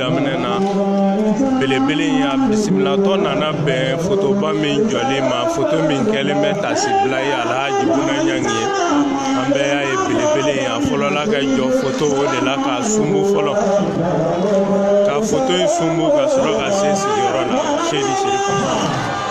daminɛ na belebele in y'a bisimilatɔ nana bɛn fotoba min jɔlen ma foto min kɛlen bɛ tasibila ye alhaji buna ɲangi ye an bɛɛ y'a ye belebele in a fɔlɔla ka jɔ foto o de la k'a sunbu fɔlɔ ka foto in sunbu ka sɔrɔ ka se sigiyɔrɔ la seyidi serifu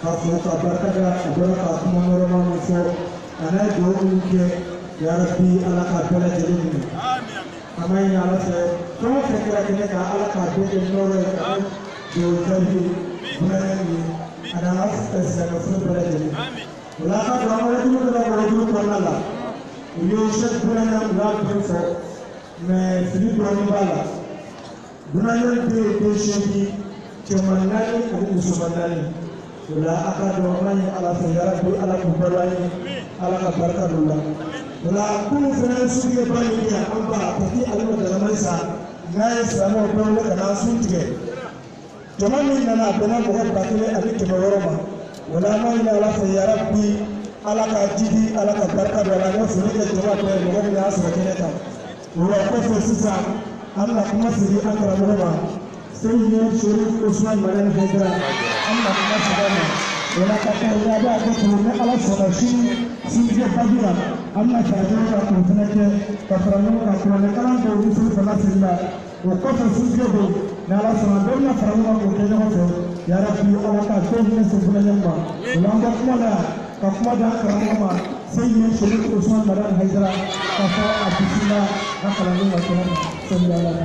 ka fo ka barika da a bɔra ka kuma nɔrɔma min fɔ a n'a ye dugawu minnu kɛ yarabi ala k'a bɛɛ lajɛlen minɛ an b'a ɲini ala fɛ fɛn o fɛn kɛra kɛnɛ kan ala k'a bɛɛ kɛ nɔrɔ ye k'a kɛ dugawu jaabi ye buna ɲangi ye a n'an ka silamɛ su bɛɛ lajɛlen o la an ka don an ka wajuli dɔ la o wajuli kɔnɔna la u ye sɛki buna ɲangi u y'a bɛɛ fɔ mɛ fili dɔɔnin b'a la Buna ɲangi den ye den seegin cɛman naani ani musoman naani o la a ka dɔn an b'a ɲini ala fɛ yarabi ala k'u balo an ye ala ka barika don u la o la kunun fana ye suntigɛba min kɛ an ba a tɛ ale ma dalamani sa n'a ye silamɛw bɛɛ wele ka na sun tigɛ jama min nana a bɛnna mɔgɔ ba kelen ani kɛmɛ wɔɔrɔ ma o la an b'a ɲini ala fɛ yarabi ala k'a jiidi ala ka barika don a la an bɛ foli kɛ jama bɛɛ ye mɔgɔ min y'a sɔrɔ kɛnɛ kan o la kɔfɛ sisan an bɛna kuma segin an karamɔgɔ ma seyidi serifu osuman madani hayidara an bɛna kuma segin a ma o la ka taa yaba b'a kɛ tugu ni ala sɔnna sini sinjɛ fajiri la an bɛna jaabi ka kun fana kɛ ka fara ɲɔgɔn kan kuranɛkalan dɔw ni seli fana sigi la o kɔfɛ suntigɛ bɛ yen n'ala sɔnna bɛɛ bɛna fara ɲɔgɔn kan k'o kɛ ɲɔgɔn fɛ yarabi ala k'a bɛɛ hinɛ se buna ɲangi ma o la an ka kuma la ka kuma di an karamɔgɔ ma seyidi serifu osman madani hayidara k'a fɔ a bisimila a kalandenw ka kɛnɛ ma sɛbi ala la.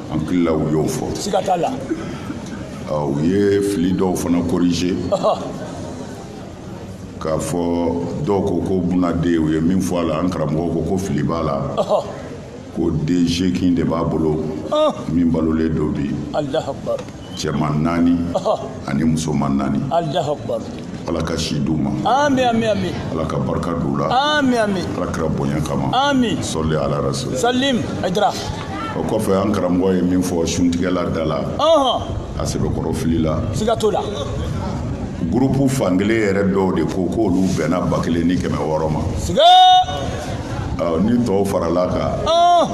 an hakili la u y'o fɔ siga t'a la u ye fili dɔw fana corriger k'a fɔ dɔw ko ko buna den u ye min fɔ a la an karamɔgɔ ko ko fili b'a la ko den seegin de b'a bolo min balolen don bi cɛman naani ani musoman naani ala ka si d'u ma ami ami ami ala ka barika d'u la ami ami ala kira bonya kama ami sɔli ala rasul salim ajira o kɔfɛ an karamɔgɔ ye min fɔ suntigɛla da la a sɛbɛkɔrɔ filila siga t'o la gurupu fankelen yɛrɛ dɔw de ko k'olu bɛnna ba kelen ni kɛmɛ wɔɔrɔ ma siga ni tɔw farala kan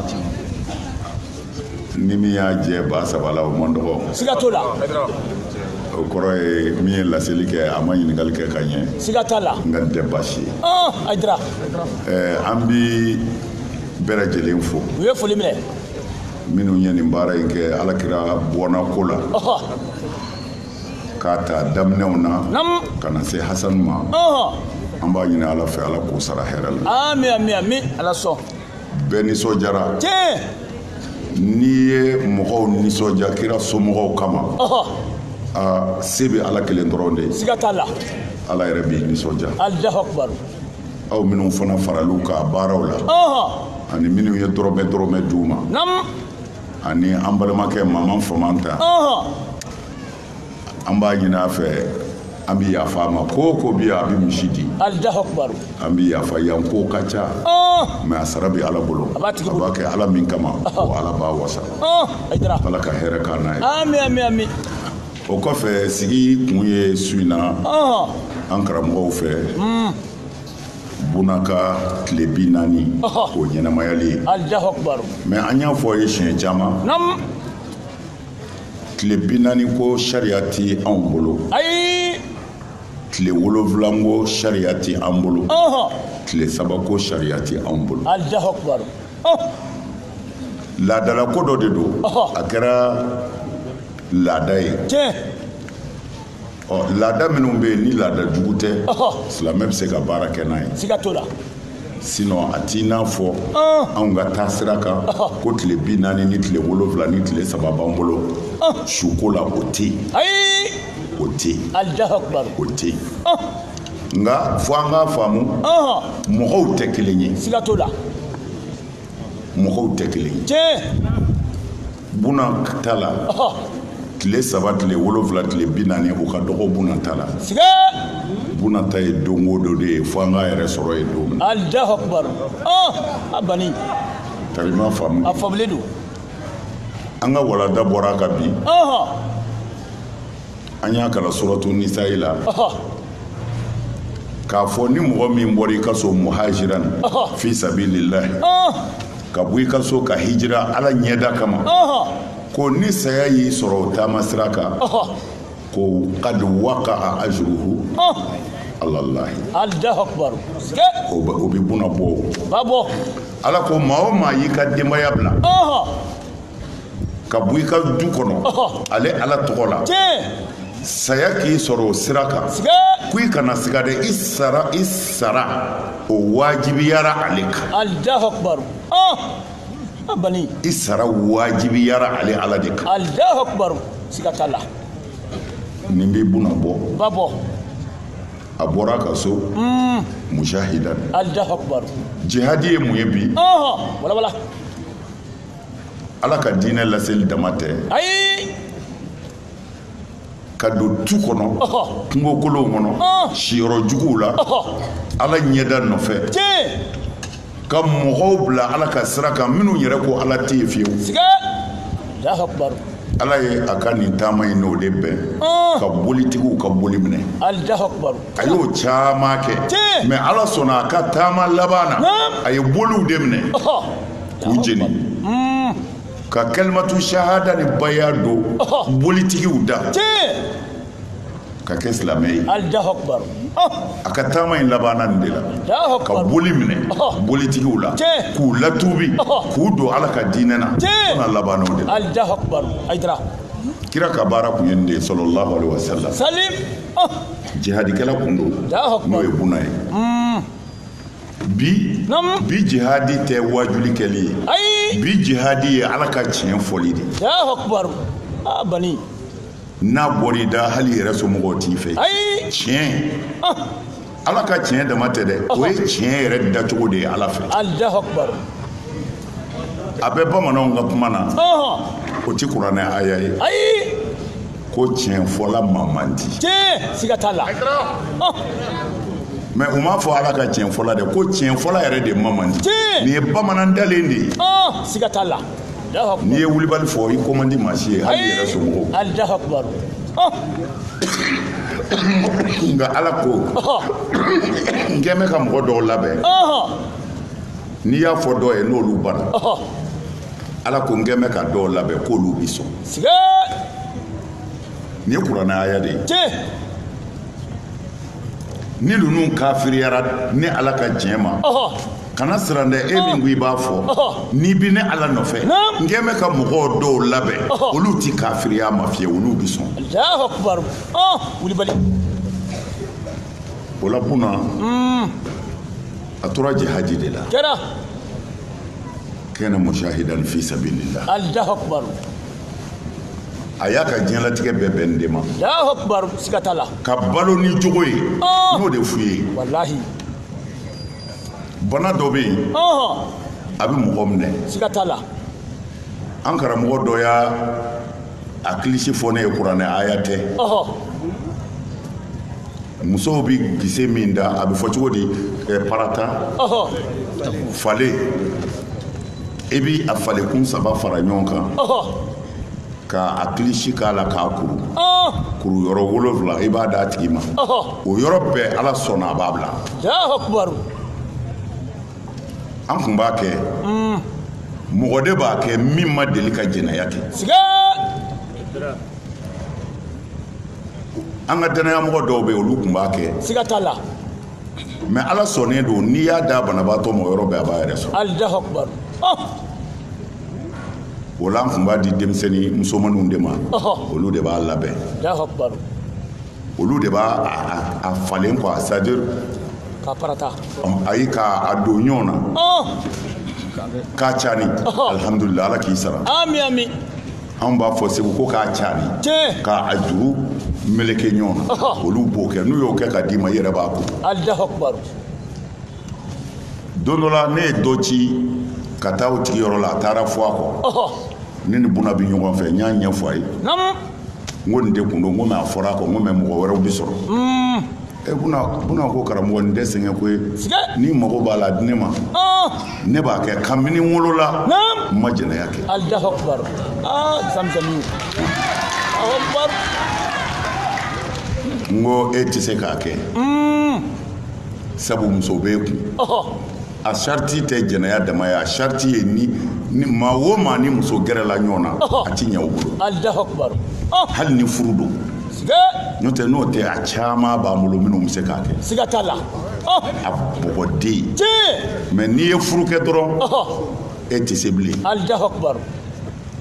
ni min y'a jɛ ba saba la o man dɔgɔ siga t'o la o kɔrɔ ye min ye laseli kɛ a ma ɲininkali kɛ ka ɲɛ siga t'a la nka nin tɛ baasi ye ah, a dira eh, an bi bɛɛ lajɛlen fo u ye foli minɛ minnu ye nin baara in kɛ ala kira bɔnna ko la k'a ta daminɛw na ka na se hasanu ma an b'a ɲini ala fɛ ala k'o sara hɛrɛ la amin amin amin ala sɔn bɛɛ nisɔndiyara n'i ye mɔgɔw nisɔndiya kira somɔgɔw kama aa se bɛ ala kelen dɔrɔn de ye siga t'a la ala yɛrɛ b'i nisɔndiya alahu akubaru aw minnu fana faral'u ka baaraw la ani minnu ye dɔrɔmɛ dɔrɔmɛ d'u ma ani an balimakɛ maman famanta an b'a ɲini a fɛ an bɛ yafa a ma ko ko bi a bɛ misi di an bɛ yafa yan ko ka ca ah! mɛ a sara bɛ ala bolo a b'a kɛ ala min kama ah! o ala b'a wasa ah! ala ka hɛrɛ k'a n'a ye o kɔfɛ sigi kun ye su in na an karamɔgɔw fɛ hmm. buna ka tile bi naani o ɲɛnamayali ye mɛ an y'a fɔ a ye siɲɛ caman tile bi naani ko sariya tɛ anw bolo ayi tile wolonwula ko sariya tɛ an bolo tile saba ko sariya tɛ anw bolo laadalako dɔ de don a kɛra laada ye ɔ laada minnu bɛ yen ni laada jugu tɛ silamɛ bɛ se ka baara kɛ n'a ye siga t'o la sinon a t'i n'a fɔ anw ka taa sira kan ko tile bi naani ni tile wolonwula ni tile saba b'an bolo suko la o tɛ yen o tɛ yen o tɛ yen nka fo an k'a faamu mɔgɔw tɛ kelen ye siga t'o la mɔgɔw tɛ kelen ye tiɲɛ Buna ta la tile saba tile wolonwula tile bi naani o ka dɔgɔ buna ta la buna ta ye don o don de ye fo an k'a yɛrɛ sɔrɔ ye don min alahu akubaru a bani tari ma faamu a faamulen don an ka walanda bɔra a kan bi an y'a kalan suratu nisayi la k'a fɔ ni mɔgɔ min bɔra i ka so muhajiran fi sabilillahi ka bɔ i ka so ka hijira ala ɲɛda kama ko ni saya y'i sɔrɔ o taama sira kan ko qad waqa'a ajruhu alalahi o bɛ buna bɔ ala ko maa o maa y'i ka denbaya bila ka bɔ i ka du kɔnɔ ale ala tɔgɔ la saya k'i sɔrɔ o sira kan ko i kana siga dɛ i sara i sara o wajibiyara ale kan i sara wajibiyara ale ala de kan nin bi buna bɔ a bɔra ka so mm. mujahidan jihadi ye mun ye bi ala ka diinɛ laseli dama tɛ ayi ka don tu kɔnɔ kungokolonw kɔnɔ siyɔrɔ juguw la ala ɲɛda nɔfɛ ka mɔgɔw bila ala ka sira kan minnu yɛrɛ ko ala tɛ yen fiyewu ala ye a ka nin taama in n'o de bɛn ka bolitigiw ka boli minɛ a y'o caman kɛ mɛ ala sɔnna a ka taama laban na a ye boliw de minɛ k'u jeni ka kalimatu shahada ni baya don bolitigiw da ka kɛ silamɛ ye a ka taama in labanna nin de la ka boli minɛ bolitigiw la k'u latubi k'u don ala ka diinɛ na fana labanna o de la kira ka baara kun ye nin de ye sallallahu alaihi wa sallam jihadikɛla kun don n'o ye buna ye bi bi jihadi tɛ wajuli kɛli ye ayi bi jihadi ye ala ka tiɲɛ fɔli de alahu akubaru a bani n'a bɔr'i da hali i yɛrɛ somɔgɔw t'i fɛ ayi tiɲɛ ah. ala ka tiɲɛ dama tɛ dɛ o ye tiɲɛ yɛrɛ dacogo de ye ala fɛ alahu akubaru a bɛ bamananw ka kuma na o ti kuranɛ aya ye ayi ko tiɲɛ fɔla maa man di tiɲɛ siga t'a la mɛ u m'a fɔ ala ka tiɲɛ fɔla dɛ ko tiɲɛ fɔla yɛrɛ de ma man di nin ye bamanan dalen de ye siga t'a la n'i ye wulibali fɔ i ko man di maa si ye hali i yɛrɛ somɔgɔw nka ala ko n kɛ bɛ ka mɔgɔ dɔw labɛn n'i y'a fɔ dɔw ye n'olu banna ala ko n kɛ bɛ ka dɔw labɛn k'olu bi sɔn nin ye kuranɛ aya de ye ni ninnu kafiriyara ne ala ka tiɲɛ ma kana siran dɛ e min ko i b'a fɔ n'i bi ne ala nɔfɛ n kɛ bɛ ka mɔgɔw dɔw labɛn olu ti kafiriya ma fiyewu olu bi sɔn o la buna a tora jihadi de la kana mushahidan fi sabilillah allahu akbar a y'a ka diɲɛlatigɛ bɛɛ bɛn nin de ma allahu akbar siga t'a la ka balo ni jogo ye Ah. n y'o de f'u ye walahi bana dɔ bɛ yen ɔhɔn a bɛ mɔgɔ minɛ siga t'a la an karamɔgɔ dɔ y'a a kilisi fɔ ne ye kuranɛ aya tɛ musow bi gise min da a bɛ fɔ cogo di eh, parata fale i bi a fale kun saba fara ɲɔgɔn kan ka a kilisi k'a la k'a kuru kuru yɔrɔ wolonfila i b'a d'a tigi ma o yɔrɔ bɛɛ ala sɔnna a b'a bila an kun b'a kɛ mm. mɔgɔ de b'a kɛ min ma deli ka jɛnɛya kɛ an ka dannayamɔgɔ dɔw bɛ yen olu kun b'a kɛ siga t'a la mɛ ala sɔnnen don n'i y'a da banabaatɔ ma yɔrɔ bɛɛ a b'a yɛrɛ sɔrɔ alahu akubar oh! o la an kun b'a di denmisɛnnin musomaninw de ma olu de b'a labɛn alahu akubar olu de b'a a falen quoi c'est à dire ka parata ayi ka a don ɲɔgɔn na oh. k'a cani oh. alhamdulilah ala k'i sara ami ami anw b'a fɔ segu ko k'a cani k'a juru meleke ɲɔgɔn na oh. olu b'o kɛ n'u y'o kɛ ka d'i ma i yɛrɛ b'a kuru alahu akubaru don dɔ la ne ye dɔ ci ka taa o tigi yɔrɔ la a taara fɔ a kɔ ne ni buna bɛ ɲɔgɔn fɛ n y'a ɲɛfɔ a ye n ko nin de kun don n ko mɛ a fɔra a kɔ n ko mɛ mɔgɔ wɛrɛw bɛ sɔrɔ mm. buna ko karamɔgɔ nin tɛ sɛgɛn ko ye n'i mago b'a la di ne ma oh. ne b'a kɛ kabini n wolola n ma jɛnɛya kɛ ah, n ko e tɛ se k'a kɛ mm. sabu muso bɛ e kun a sariti tɛ jɛnɛya dama ye a sariti ye ni maa o maa ni muso gɛrɛla ɲɔgɔn na a ti ɲɛ o bolo hali ni furu don n'o tɛ n'o tɛ a caman b'an bolo minnu bɛ se k'a kɛ siga t'a la a bɔgɔden mɛ n'i ye furu kɛ dɔrɔn e tɛ se bilen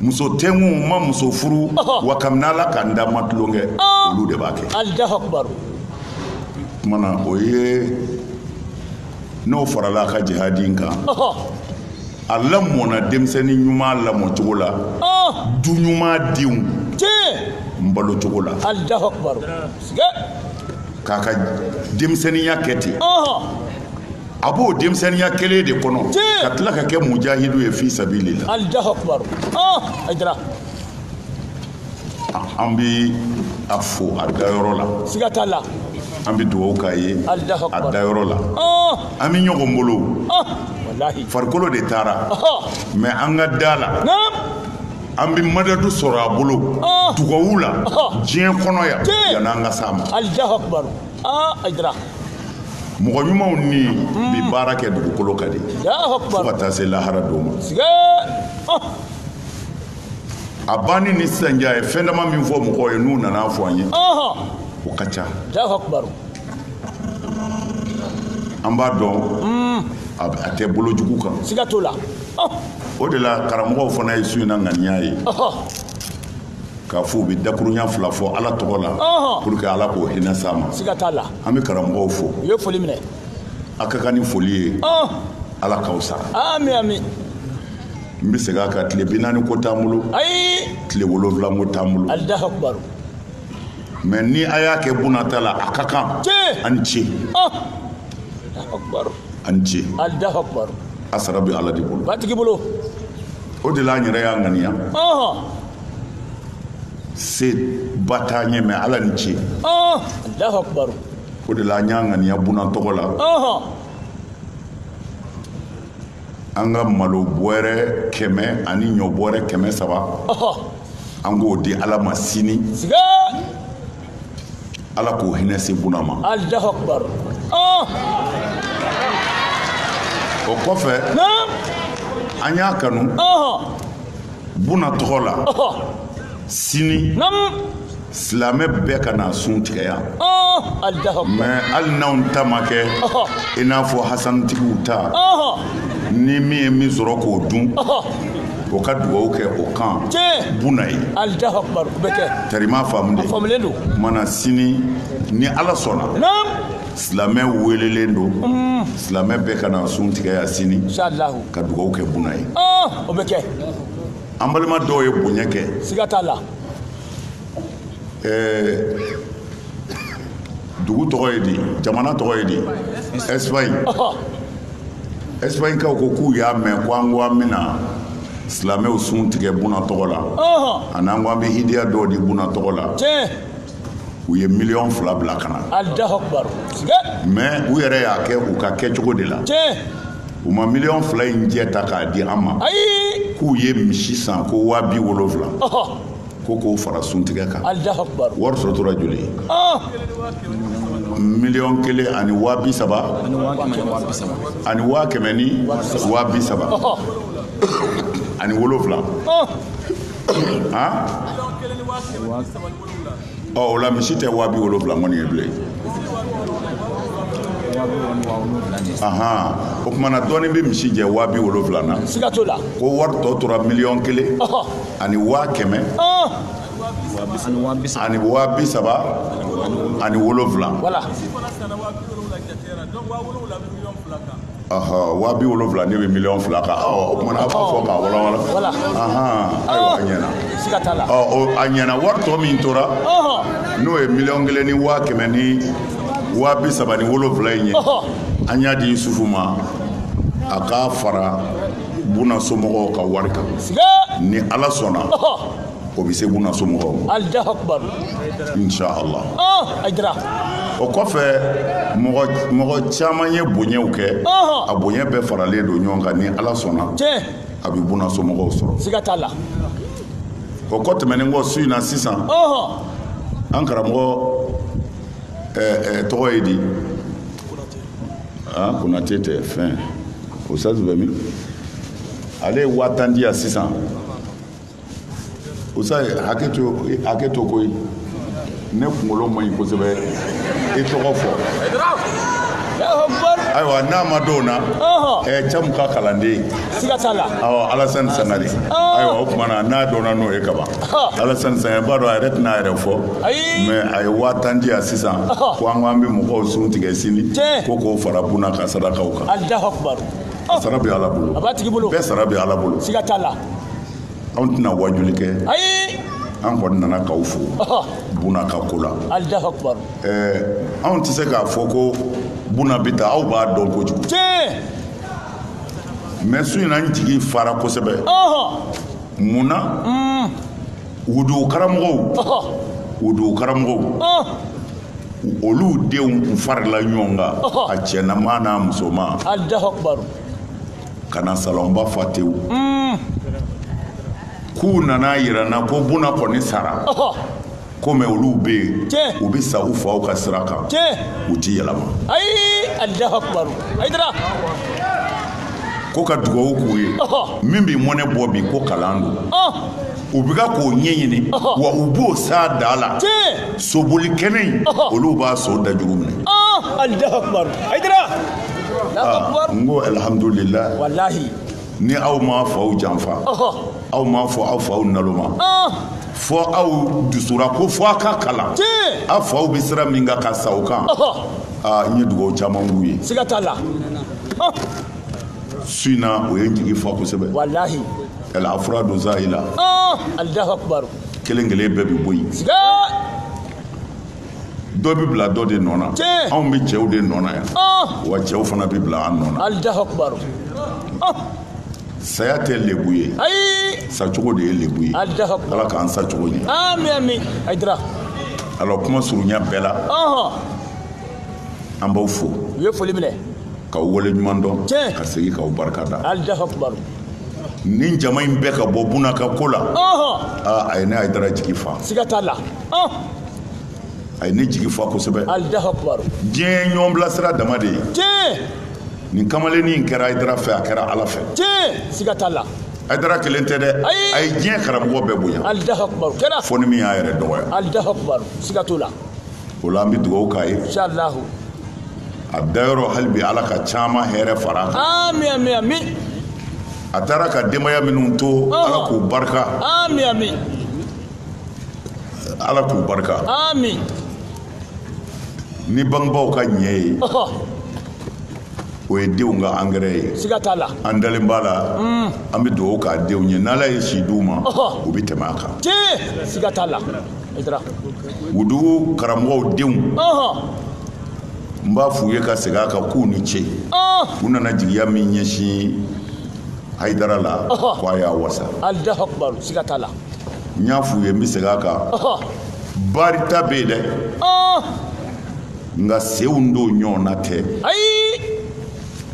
muso tɛ n kun n ma muso furu wa kabini ala ka n da n ma tulonkɛ olu de b'a kɛ kumana o ye n'o farala a ka jihadi in kan a lamɔna denmisɛnnin ɲuman lamɔcogo la du ɲuman denw n balo cogo la k'a ka denmisɛnninya kɛ ten a b'o denmisɛnninya kelen de kɔnɔ ka tila ka kɛ mujahidu ye fi sabilillah an bɛ a fo a dayɔrɔ la siga t'a la an bɛ dugawu k'a ye a dayɔrɔ la an bɛ ɲɔgɔn bolo farikolo de taara mais an ka da la an bɛ madadu sɔrɔ a bolo dugawu la diɲɛ kɔnɔ yan yan'an ka s'a ma mɔgɔ ɲumanw nin bɛ hmm. baara kɛ dugukolo kan de fo ka taa se lahara don ma a banni ni sisan cɛ a ye fɛn dama min fɔ mɔgɔw ye n'u nan'a fɔ an ye o ka ca an b'a dɔn hmm. a tɛ bolo jugu kan siga t'o la o de la karamɔgɔw fana ye su in na ŋaniya ye k'a fɔ u bɛ dakurunya fila fɔ ala tɔgɔ la pour que ala k'o hinɛ s'a ma siga t'a la an bɛ karamɔgɔw fo u ye foli minɛ a ka kan ni foli ye ala k'aw sara ami ami n bɛ segin a kan tile bi naani ko t'an bolo ayi tile wolonwula ko t'an bolo allahu akbar mais ni a y'a kɛ buna ta la a ka kan tiɲɛ an ce oh allahu akbar an ce allahu akbar a sara bɛ ala de bolo matigi bolo o de la an yɛrɛ y'a ŋaniya ɔhɔn se ba t'an ye mais ala ni ce ɔhɔn allahu akbar o de la an y'a ŋaniya buna tɔgɔ la ɔhɔn an ka malo bɔrɛ kɛmɛ ani ɲɔ bɔrɛ kɛmɛ saba an k'o di ala ma sini ala k'o hinɛ se buna ma o kɔfɛ an y'a kanu buna tɔgɔ la sini silamɛ bɛɛ ka na sun tigɛ yan mais hali n'anw ta ma kɛ i n'a fɔ hasanitigiw ta ni min ye min sɔrɔ k'o dun o ka dugawu kɛ o kan buna ye tarima faamu de kumana sini ni ala sɔnna silamɛ weelelen don mm. silamɛ bɛɛ ka na sun tigɛ yan sini ka dugawu kɛ buna ye an balima dɔw ye bonya kɛ siga t'a la dugu tɔgɔ ye di jamana tɔgɔ ye di espagne espagne kaw ko k'u y'a mɛn ko an ko an bɛna silamɛw sun tigɛ buna tɔgɔ la ani an ko an bɛ hidiya dɔw di buna tɔgɔ la u ye miliyɔn fila bila ka na mais u yɛrɛ y'a kɛ u ka kɛcogo de la u ma miliyɔn fila in jɛ ta k'a di an ma k'u ye misi san ko waa bi wolonwula ko k'o fara suntigɛ kan wari sɔrɔ tora joli ye miliyɔn kelen ani waa bi saba ani waa kɛmɛ ni waa bi saba ani wolonwula ɔ o la misi tɛ waa bi wolonwula kɔni ye bilen o kumana dɔɔnin bɛ misi jɛ waa bi wolonwula na siga t'o la ko wari tɔ tora miliyɔn kelen ani waa kɛmɛ ani waa bi saba ani wolonwula waa bi wolonwula ne bɛ miliyɔn fila kan o kumana a b'a fɔ k'a walawala ayiwa a ɲɛna a ɲɛna wari tɔ min tora n'o ye miliyɔn kelen ni waa kɛmɛ ni waa bi saba ni wolonwula in ye an y'a di yusufu ma a k'a fara buna somɔgɔw ka wari kan ni ala sɔnna o bɛ se buna somɔgɔw ma alahu akubar inshallah ayidara o kɔfɛ mɔgɔ mɔgɔ caman ye bonyaw kɛ a bonya bɛɛ faralen don ɲɔgɔn kan ni ala sɔnna tiɲɛ a bɛ buna somɔgɔw sɔrɔ siga t'a la o kɔ tɛmɛnen kɔ su in na sisan an karamɔgɔ tɔgɔ ye di ah konate tɛ fɛn usutazu bɛ min ale ye waa tan di yan sisan usutazu hakɛ to hakɛ to koyi ne kunkolo man ɲi kosɛbɛ i tɔgɔ fɔ ayiwa n'a ma dɔw na camu ka kalanden alasani sangare ayiwa o kumana n'a dɔnna n'o ye kaban alasani sangare b'a dɔn a yɛrɛ tɛna a yɛrɛ fɔ mɛ a ye waa tan di yan sisan ko an ko an bɛ mɔgɔw sun tigɛ sini ko k'o fara buna ka sadakaw kan sara bɛ ala bolo a b'a tigi bolo bɛɛ sara bɛ ala bolo siga t'a la anw tɛna wajuli kɛ ayi an kɔni nana k'aw fo buna ka ko la alahu akubar ɛɛ anw tɛ se k'a fɔ ko buna bɛ taa aw b'a dɔn kojugu tiɲɛ mɛ su in na n jigi fara kosɛbɛ mun na u dugu karamɔgɔw u dugu karamɔgɔw olu denw kun farila ɲɔgɔn kan a cɛnama n'a musoman ka na salɔnba fa tewu mm. k'u nana yira n na ko buna kɔni sara komi olu bɛ yen u bɛ sa u faw ka sira kan u ti yɛlɛma ko ka dugawu k'u ye min bɛ mɔnɛ bɔ bi ko kalan don u bɛ k'o ɲɛɲini wa u b'o s'a da la soboli kɛnɛ in olu b'a so dajugu minɛ n ko alihamudulila ni aw m'a faw janfa aw m'a fɔ aw faw naloma fo aw dusura ko fo a ka kalan aw faw bɛ sira min kan ka sa o kan n ye dugawu caman k'u ye su in na o ye n jigi fa kosɛbɛ Yala a fura don sa i la? Ɔɔ! Alahu akibaru! Kelen kelen bɛɛ bɛ bɔ yen. Siga! Dɔ bɛ bila dɔ de nɔ na. Tiɲɛ! Anw bɛ cɛw de nɔ na yan. Ɔɔ! Wa cɛw fana bɛ bila an nɔ na. Alahu akibaru! Ɔɔ! Saya tɛ lebu ye. Ayi! Sacogo de ye lebu ye. Alahu akibaru! Ala k'an sacogo ɲɛ. Ami ami! Ayidara! Alors kuma surunya bɛɛ la. Ɔnhɔn! an b'aw fo u ye foli minɛ k'aw wale ɲuman dɔn Tiɲɛ. ka segin k'aw barika da alahu akibaru nin jama in bɛɛ ka bɔ buna ka ko la ɔhɔn aa a ye ne ayidara jigi fa siga t'a la ɔn a ye ne jigi fa kosɛbɛ alahu akibaru diɲɛ ɲɔgɔn bilasira dama de ye tiɲɛ nin kamalennin in kɛra ayidara fɛ a kɛra ala fɛ tiɲɛ siga t'a la ayidara kelen tɛ dɛ Ayi. a ye diɲɛ karamɔgɔ bɛɛ bonya alahu akibaru kɛra fo ni min y'a yɛrɛ dɔgɔya alahu akibaru siga t'o la o la an bɛ dugawu k'a ye inshallah a dayɔrɔ hali bi ala ka caman hɛrɛ fara a kan ami ami ami a taara ka denbaya minnu to Ɔhɔ. ala k'u barika ami ami ala k'u barika ami ni bangebaaw ka ɲɛ ye ɔhɔ o ye denw ka angɛrɛ ye siga t'a la an dalen b'a la an bɛ dugawu k'a denw ye n'ala ye si d'u ma Ɔhɔ. u bɛ tɛmɛ a kan tiɲɛ siga t'a la wudugu karamɔgɔw denw n b'a f'u ye ka segin a kan k'u ni ce u nana jigiya min ɲɛsin hayidara la ko a y'a wasa n y'a f'u ye n bɛ segin a kan barita bɛ yen dɛ nka senw don ɲɔgɔn na tɛ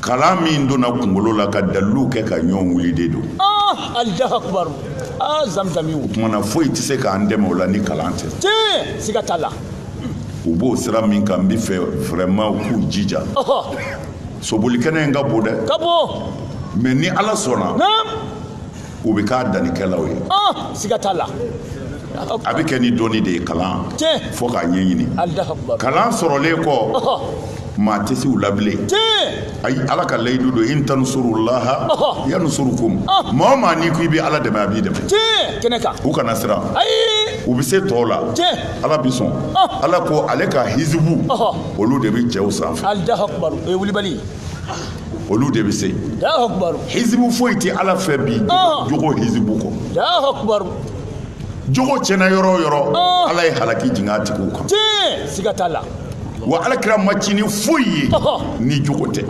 kalan min donna kunkolo la ka dalilu kɛ ka ɲɔgɔn wuli de don ah, alahu akibaru aa ah, zamzami o tuma na foyi tɛ se k'an dɛmɛ o la ni kalan tɛ tiɲɛ siga t'a la u b'o sira min kan n b'a fɛ vraiment u k'u jija sobolikɛnɛ in ka bon dɛ ka bon mais ni ala sɔnna u bɛ k'a dannikɛlaw ye ah, siga t'a la a bɛ kɛ ni dɔnni de ye kalan fo k'a ɲɛɲini kalan sɔrɔlen kɔ maa tɛ se u la bilen ayi ala ka layidu don in tansurulaha yansurukum maa o maa n'i ko i bɛ ala dɛmɛ a b'i dɛmɛ kɛnɛ kan u kana siran u bɛ se tɔw la ala bɛ sɔn ala ko ale ka hizibu olu de bɛ cɛw sanfɛ o ye wulibali olu de bɛ se hizibu foyi tɛ ala fɛ bi jogo hizibu kɔ jogo tiɲɛna yɔrɔ o yɔrɔ ala ye halaki jigin a tigiw kan siga t'a la wa ala kira ma ci ni foyi ye ni jogo tɛ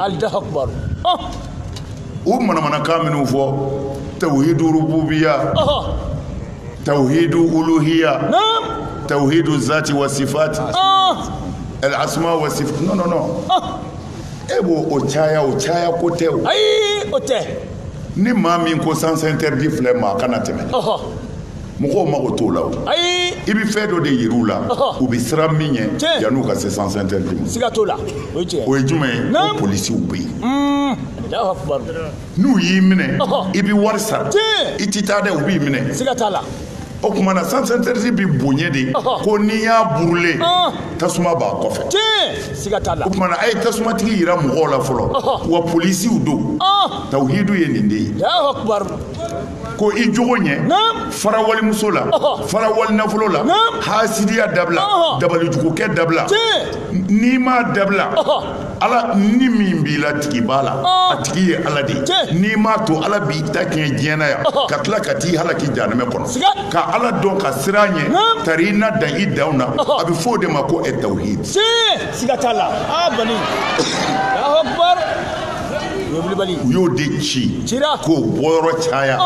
u manamanakan minnu fɔ tawhidu rububiya tawhidu uluhiya tawhidu zati wa sifati al asma wa sifat non non non e b'o o caya o caya ko tɛ o ayi o tɛ ni maa min ko sens interdit filɛ maa kana tɛmɛ mɔgɔw mago t'o la o ayi i bɛ fɛn dɔ de yir'u la u bɛ siran min ɲɛ yan'u ka se sens interdit ma siga t'o la o ye tiɲɛ o ye jumɛn ye ko polisiw bɛ yen n'u y'i minɛ i bɛ wari sara i tɛ taa dɛ u b'i minɛ siga t'a la o tuma na sens interdit bi bonya de ko n'i y'a brûler tasuma b'a kɔfɛ siga t'a la o tuma na a ye tasumatigi yira mɔgɔw la fɔlɔ wa polisiw don tawhidu ye nin de ye ko i jogo ɲɛ fara walimuso la fara walinafolo la hasidiya dabila dabalijugukɛ dabila n'i m'a dabila ala ni min b'i la tigi b'a la a tigi ye ala de ye n'i m'a to ala b'i ta tiɲɛ diɲɛ na yan ka tila ka t'i halaki jahanama kɔnɔ ka ala dɔn ka siran a ɲɛ tari i na dan i danw na a bɛ fɔ o de ma ko at tawhid siga t'a la a bani u y'o de ci k'o bɔyɔrɔ caya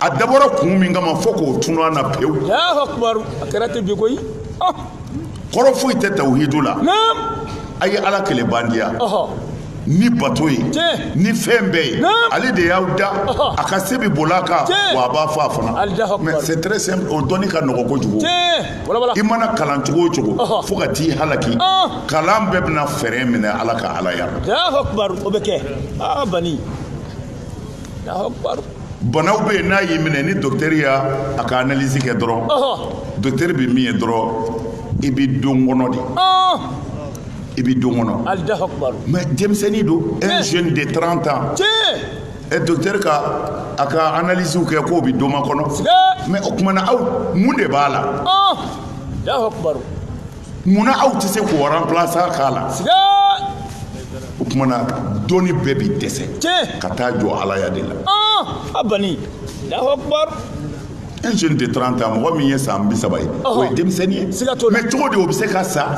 a dabɔra kun min kama fo k'o tunu an na pewu a kɛra ten bi koyi kɔrɔ foyi tɛ tawhidu la a ye ala kelen bandiya ni bato ye ni fɛn bɛɛ ye ale de y'a dan a ka se bɛ boli a kan wa a b'a faga fana mais c'est très simple o dɔnni ka nɔgɔ kojugu i mana kalan cogo o cogo fo ka t'i halaki kalan bɛɛ bɛna fɛɛrɛ minɛ ala ka alaya o bɛ kɛ aa bani banaw bɛ yen n'a y'i minɛ ni docteur y'a ka analyse kɛ dɔrɔn docteur bɛ min ye dɔrɔn i bɛ don kɔnɔ de i bɛ don kɔnɔ mais denmisɛnnin don un jeune de 30 ans ɛ docteur ka a ka analyse kɛ k'o bɛ don makɔnɔ mais o tuma na aw mun de b'a la. munna aw tɛ se k'o remplacer k'a la o tuma na dɔnni bɛɛ bɛ dɛsɛ ka taa jɔ alaya de la a bani Allahu akbar un jeune de 30 ans mɔgɔ min ye san bi saba ye o ye denmisɛnnin ye mais cogo di o bɛ se ka sa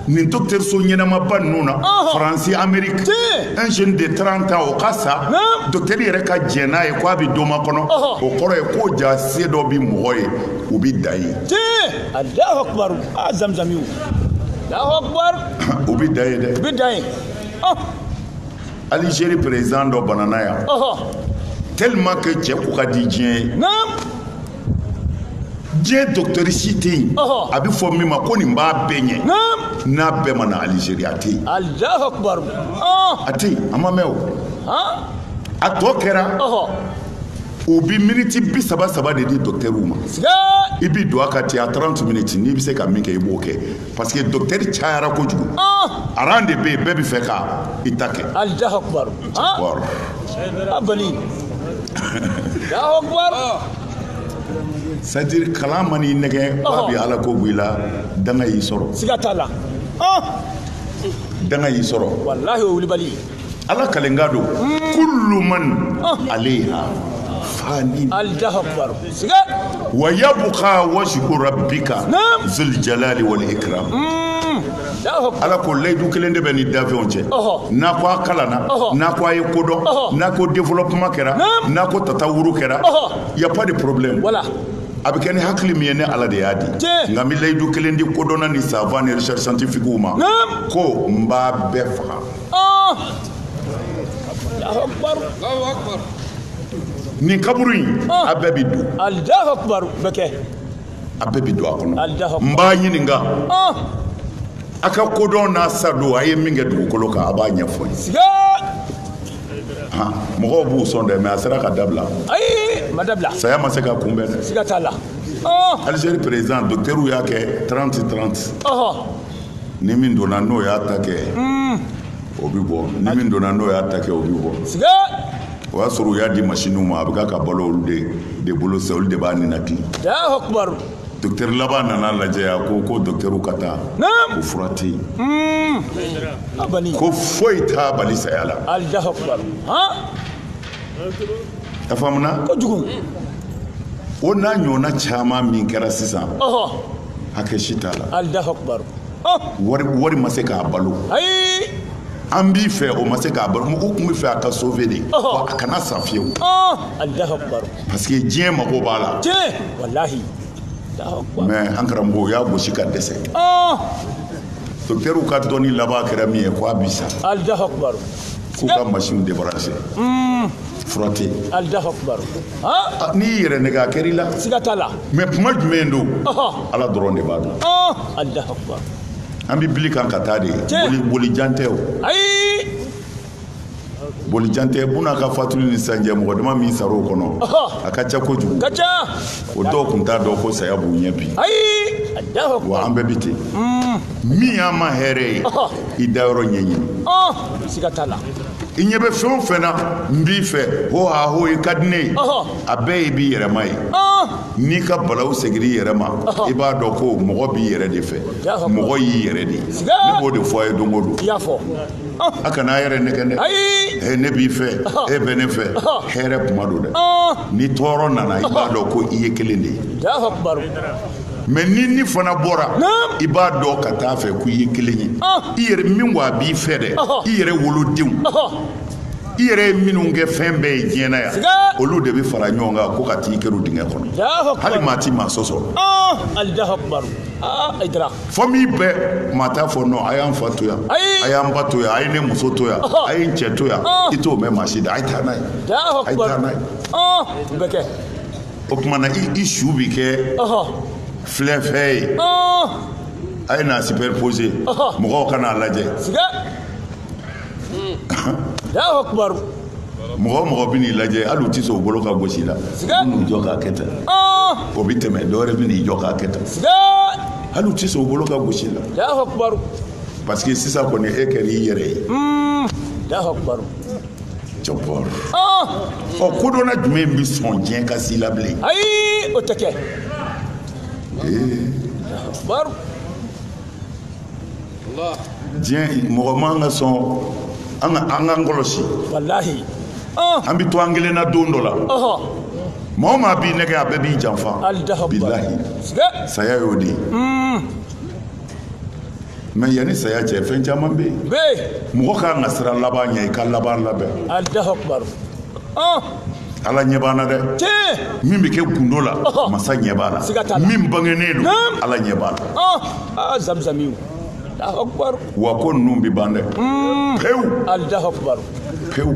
nin dɔgɔtɔrɔso ɲɛnamaba ninnu na faransi ameriki un jeune de 30 ans o ka sa docteur yɛrɛ ka jɛn n'a ye k'a bɛ don makɔnɔ o kɔrɔ ye ko jaa se dɔ bɛ mɔgɔ ye o bɛ dan ye Alahu akubar aa zamzamiw Alahu akubar u bɛ dan ye dɛ u bɛ dan ye ɔh Algérie président dɔ banana yan ɔhɔ tellement que cɛ ko ka di diɲɛ ye naam diɲɛ docteur si tɛ yen Ɔhɔ. a bɛ fɔ min ma ko nin b'a bɛɛ ɲɛ naam n'a bɛɛ ma na Algérie a tɛ yen Alahu akubar ɔh a tɛ yen a ma mɛn o han a tɔ kɛra ɔhɔ u bɛ miniti bi saba saba de di dɔkitɛriw ma i bɛ don a ka ten a taranti miniti n'i bɛ se ka min kɛ i b'o kɛ parce que dɔkitɛri cayara kojugu aran de bɛ yen bɛɛ bɛ fɛ ka i ta kɛ c'est-à-dire kalan man'i nɛgɛn ba bi ala ko bila danga y'i sɔrɔ siga t'a la danga y'i sɔrɔ walahi o wulibali ala kalenkan don kullu man alayha fani wa yabqa wajhu rabbika zul jalali wal ikram ala ko layidu kelen de bɛ ni dafɛnw cɛ n'a ko a kalanna n'a ko a ye ko dɔn n'a ko développement kɛra n'a ko tatawuru kɛra y a pas de problème a bɛ kɛ ni hakili min ye ne ala de y'a di nka n bɛ layidu kelen di kodɔnna ni savant ni recherche scientifique ma ko n b'a bɛɛ faga nin kaburu in a bɛɛ bɛ don a bɛɛ bɛ don a kɔnɔ n b'a ɲininka a ka kodɔn n'a sadon a ye min kɛ dugukolo kan a b'a ɲɛfɔ n ye mɔgɔw b'u sɔn dɛ mais a sera ka dabila saya ma se ka kunbɛn dɛ Algérie président docteur y'a kɛ 30 30 ni min donna n'o y'a ta kɛ hmm. o bɛ bɔ ni min donna n'o y'a ta kɛ o bɛ bɔ o y'a sɔrɔ u y'a di masiniw ma a bɛ k'a balo olu de de bolo sa olu de b'a ninakili dɔkitɛri laban nan'a lajɛ a ko ko dɔkitɛriw ka taa ko fura tɛ yen hmm. ko foyi t'a bali saya la a faamuna o n'a ɲɔgɔnna caman min kɛra sisan hakɛ si t'a la alahu akubaru wari wari ma se k'a balo ayi an b'i fɛ o ma se k'a balo mɔgɔw tun bɛ fɛ a ka sauver de wa a kana sa fiyewu alahu akubaru parce que diɲɛ mago b'a la tiɲɛ walahi mais an karamɔgɔ o y'a gosi ka dɛsɛ dɔkitɛriw ka dɔnni laban kɛra min ye ko a bi sa alahu akubaru k'u ka machine débrancher fura tɛ yen alahu akubaru ah, n'i y'i yɛrɛ nɛgɛ a kɛr'i la siga t'a la mais kuma jumɛn don ala dɔrɔn de b'a dɔn alahu akubaru an bɛ bili kan ka taa de boli boli jan tɛ o ayi boli jan tɛ buna ka fatuli ni sisan cɛ mɔgɔ dama min sara o kɔnɔ a ka ca kojugu ka ca o dɔw kun t'a dɔn ko saya b'u ɲɛ bi ayi alahu akubaru wa an bɛɛ bɛ ten mm. min y'an ma hɛrɛ ye i dayɔrɔ ɲɛɲini siga t'a la i ɲɛ bɛ fɛn o fɛn na n b'i fɛ ho ha ho i ka di ne ye a bɛɛ ye b'i yɛrɛma ye n'i ka balaw segir'i yɛrɛ ma i b'a dɔn ko mɔgɔ b'i yɛrɛ de fɛ mɔgɔ y'i yɛrɛ de ye ne b'o de fɔ a ye don o don a kana a yɛrɛ nɛgɛ dɛ he ne b'i fɛ e bɛ ne fɛ hɛrɛ kuma don dɛ ni tɔɔrɔ nana i b'a dɔn ko i ye kelen de ye mais ni ni fana bɔra i b'a dɔn ka t'a fɛ ko i ye kelen ye i yɛrɛ min wa a b'i fɛ dɛ i yɛrɛ wolodenw i yɛrɛ ye minnu kɛ fɛn bɛɛ ye diɲɛ na yan olu de bɛ fara ɲɔgɔn kan ko ka t'i kɛrun dingɛ kɔnɔ hali maa ti maa sɔsɔ famille bɛɛ maa t'a fɔ non a y'an fa to yan a y'an ba to yan a ye ne muso to yan a ye n cɛ to yan i t'o mɛn maa si da a ye taa n'a ye a ye taa n'a ye o tuma na i su bɛ kɛ filɛfɛn ye a ye n'a superposer mɔgɔw ka n'a lajɛ mɔgɔ mɔgɔ bɛ n'i lajɛ hali u tɛ sɔn u bolo ka gos'i la n'u jɔ k'a kɛ tan o bɛ tɛmɛ dɔ wɛrɛ bɛ n'i jɔ k'a kɛ tan hali u tɛ sɔn u bolo ka gos'i la parce que sisan kɔni e kɛra i yɛrɛ ye. ɔ kodɔnna jumɛn bɛ sɔn diɲɛ ka s'i la bilen. ayi o tɛ kɛ. diɲɛ mɔgɔ man ka sɔn an ka an k'an kɔlɔsi. walahi. an bɛ to an kelen na don dɔ la. maa o maa b'i nɛgɛ a bɛɛ b'i janfa. bilahi saya y'o de ye. mais yanni saya cɛ fɛn caman bɛ yen mɔgɔ ka kan ka siran laban ɲɛ i ka laban labɛn ala ɲɛ b'an na dɛ min bɛ kɛ gundo la masa ɲɛ b'a la min bangennen don ala ɲɛ b'a la wa ko ninnu bɛ ban dɛ pewu pewu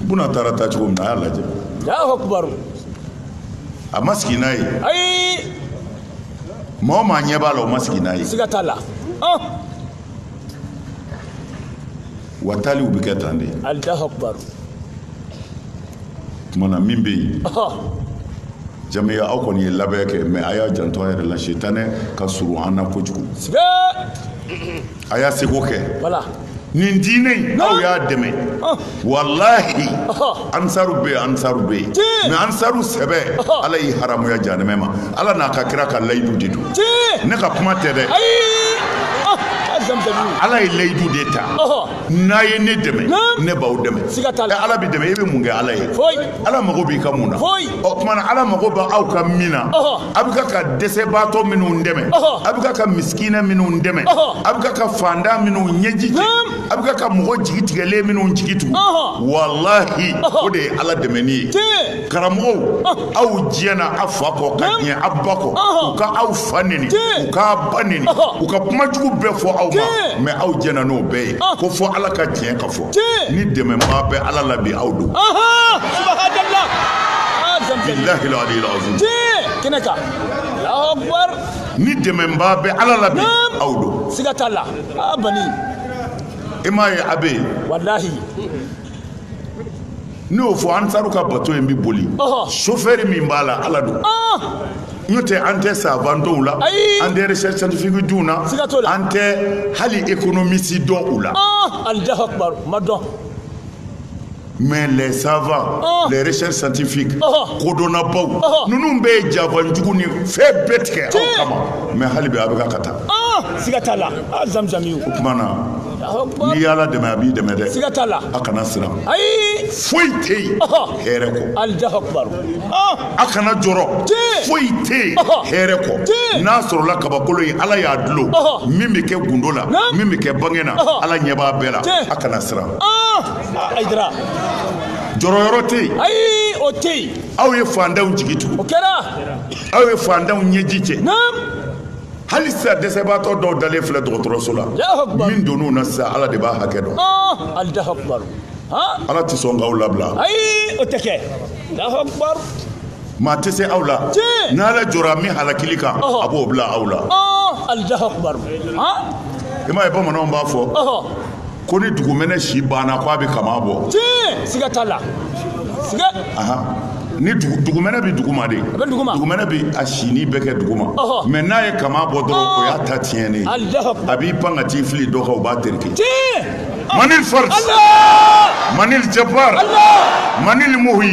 buna taara taa cogo min na a y'a lajɛ a ma sigi n'a ye maa o maa ɲɛ b'a la o ma sigi n'a ye siga t'a la wa taaliw bɛ kɛ tan de alahu akubaru tuma na min bɛ yen jamiya aw kɔni ye labɛn kɛ mais a y'a janto a yɛrɛ la sitanɛ ka surun an na kojugu a y'a seko kɛ voilà nin diinɛ in aw y'a dɛmɛ walahi ansaru bɛ yen ansaru bɛ yen mais ansaru sɛbɛ ala y'i haramuya jahanɛmɛ ma ala n'a ka kira ka layidu de don ne ka kuma tɛ dɛ ala ye layidu de ta n'a ye ne dɛmɛ ne b'aw dɛmɛ ala bɛ dɛmɛ i bɛ mun kɛ ala ye ala mago b'i ka mun na o tuma na ala mago bɛ aw ka min na a bɛ ka ka dɛsɛbaatɔ minnu dɛmɛ a bɛ ka ka misikinɛ minnu dɛmɛ a bɛ ka ka fantan minnu ɲɛji cɛ a bɛ ka ka mɔgɔ jigi tigɛlen minnu jigi tugu walahi o de ye ala dɛmɛni ye karamɔgɔw aw diɲɛna a fa kɔ ka diɲɛ a ba kɔ u ka aw fa neni u k'a ba neni u ka kuma jugu bɛɛ fɔ aw ma mais aw diɲɛna n'o bɛɛ ye ko fɔ ala ka tiɲɛ ka ni dɛmɛbaa bɛ ala la bi aw don bilahi aliyil azim kɛnɛ kan alahu akbar ni dɛmɛbaa bɛ ala la bi aw don siga t'a la a bani i m'a ye a bɛ yen walahi ne y'o fɔ ansaru ka bato in bɛ boli sofɛri min b'a la ala don n'o tɛ an tɛ savant dɔn u la an tɛ recherche scientifique dɔn u na an tɛ hali économiste dɔn u la alahu akbar ma dɔn mais les savants oh. les recherches scientifiques oh. kodɔnnabaw oh. ninnu bɛɛ ye janfa jugu ni fɛn bɛɛ tigɛ aw kama mais hali bi a bɛ ka ka taa siga t'a la zamzami o tuma na n'i y'ala dɛmɛ a b'i dɛmɛ dɛ siga t'a la a kana siran ayi foyi tɛ yen hɛrɛ kɔ alahu akbar a kana jɔrɔ foyi tɛ yen hɛrɛ kɔ n'a sɔrɔla kabakolo ye ala y'a dulon min bɛ kɛ gundo la min bɛ kɛ bange na ala ɲɛ b'a bɛɛ la a kana siran hayidara jɔrɔ yɔrɔ tɛ yen ayi o tɛ yen aw ye fantanw jigi tugu o kɛra aw ye fantanw ɲɛji cɛ hali sisan dɛsɛbaatɔ dɔw dalen filɛ dɔgɔtɔrɔso la min donn'u na sisan ala de b'a hakɛ dɔn ala tɛ sɔn k'aw labila ayi o tɛ kɛ maa tɛ se aw la n'ala jɔra min halakili kan a b'o bila aw la i m'a ye bamananw b'a fɔ ko ni dugumɛnɛ si banna ko a bɛ kama bɔ tiɲɛ siga t'a la siga ni dugumɛnɛ bɛ duguma de dugumɛnɛ bɛ a si nin bɛɛ kɛ duguma mais n'a ye kama bɔ dɔrɔn o y'a ta tiɲɛnen a b'i pan ka t'i fili dɔ kan o b'a tereke manil fars manil jabbar manil muhi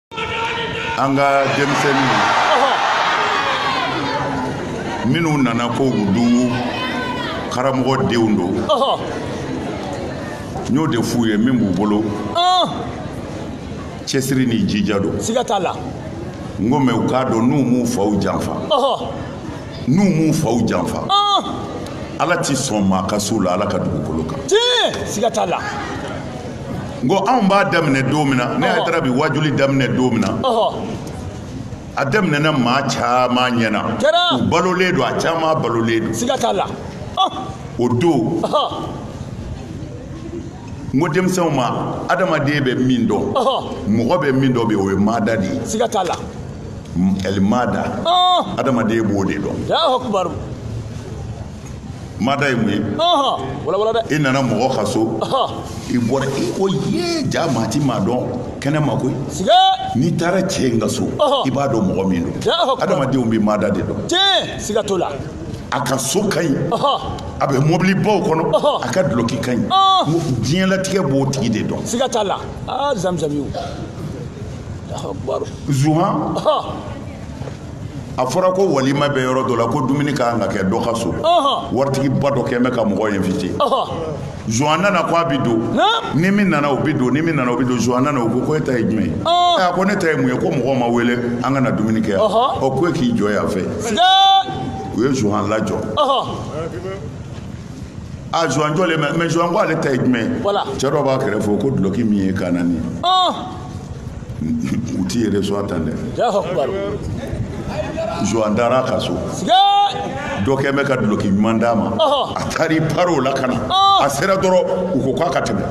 an ka denmisɛnninw minnu nana ko olu karamɔgɔ denw don n y'o de f'u ye min b'u bolo cɛsiri ni jija don siga t'a la n ko mɛ u k'a dɔn n'u m'u faw janfa n'u m'u faw janfa ala ti sɔn maa ka s'u la ala ka dugukolo kan siga t'a la n ko anw b'a daminɛ don min na ne Aïdara bi wajuli daminɛ don min na a daminɛna maa caman ɲɛna u balolen don a caman balolen don siga t'a la o don n ko denmisɛnw ma adamaden bɛ min dɔn mɔgɔ bɛ min dɔn bi o ye maada de ye siga t'a la ɛli maada adamaden b'o de dɔn maada ye mun ye i nana mɔgɔ ka so i bɔra i ko ye jaa maa ti maa dɔn kɛnɛ ma koyi n'i taara cɛ in ka so i b'a dɔn mɔgɔ min don adamadenw bɛ maada de dɔn siga t'o la a ka so ka ɲi a bɛ mobili baw kɔnɔ a ka dulɔki ka ɲi diɲɛlatigɛ b'o tigi de dɔn siga t'a la zamzami zuhan a fɔra ko walima bɛ yɔrɔ dɔ la ko dumuni ka kan ka kɛ dɔ ka so waritigiba dɔ kɛn bɛ ka mɔgɔ invité zuwan nana ko a bɛ don ni min nana o bɛ don ni min nana o bɛ don zuwan nana o ko ko e ta ye jumɛn ye a ko ne ta ye mun ye ko mɔgɔw ma wele an ka na dumuni kɛ yan ɔ ko e k'i jɔ yan fɛ u ye zuwan lajɔ a zuwan jɔlen bɛ mɛ zuwan ko ale ta ye jumɛn ye cɛ dɔ b'a kɛrɛfɛ o ko dulɔki min y'i kan na nin ye. u t'i yɛrɛ sɔn a tan dɛ zuwan taara ka so dɔ kɛ bɛ ka duloki ɲuman d'a ma a taara i pari o la ka na a sera dɔrɔn u ko k'a ka tɛmɛ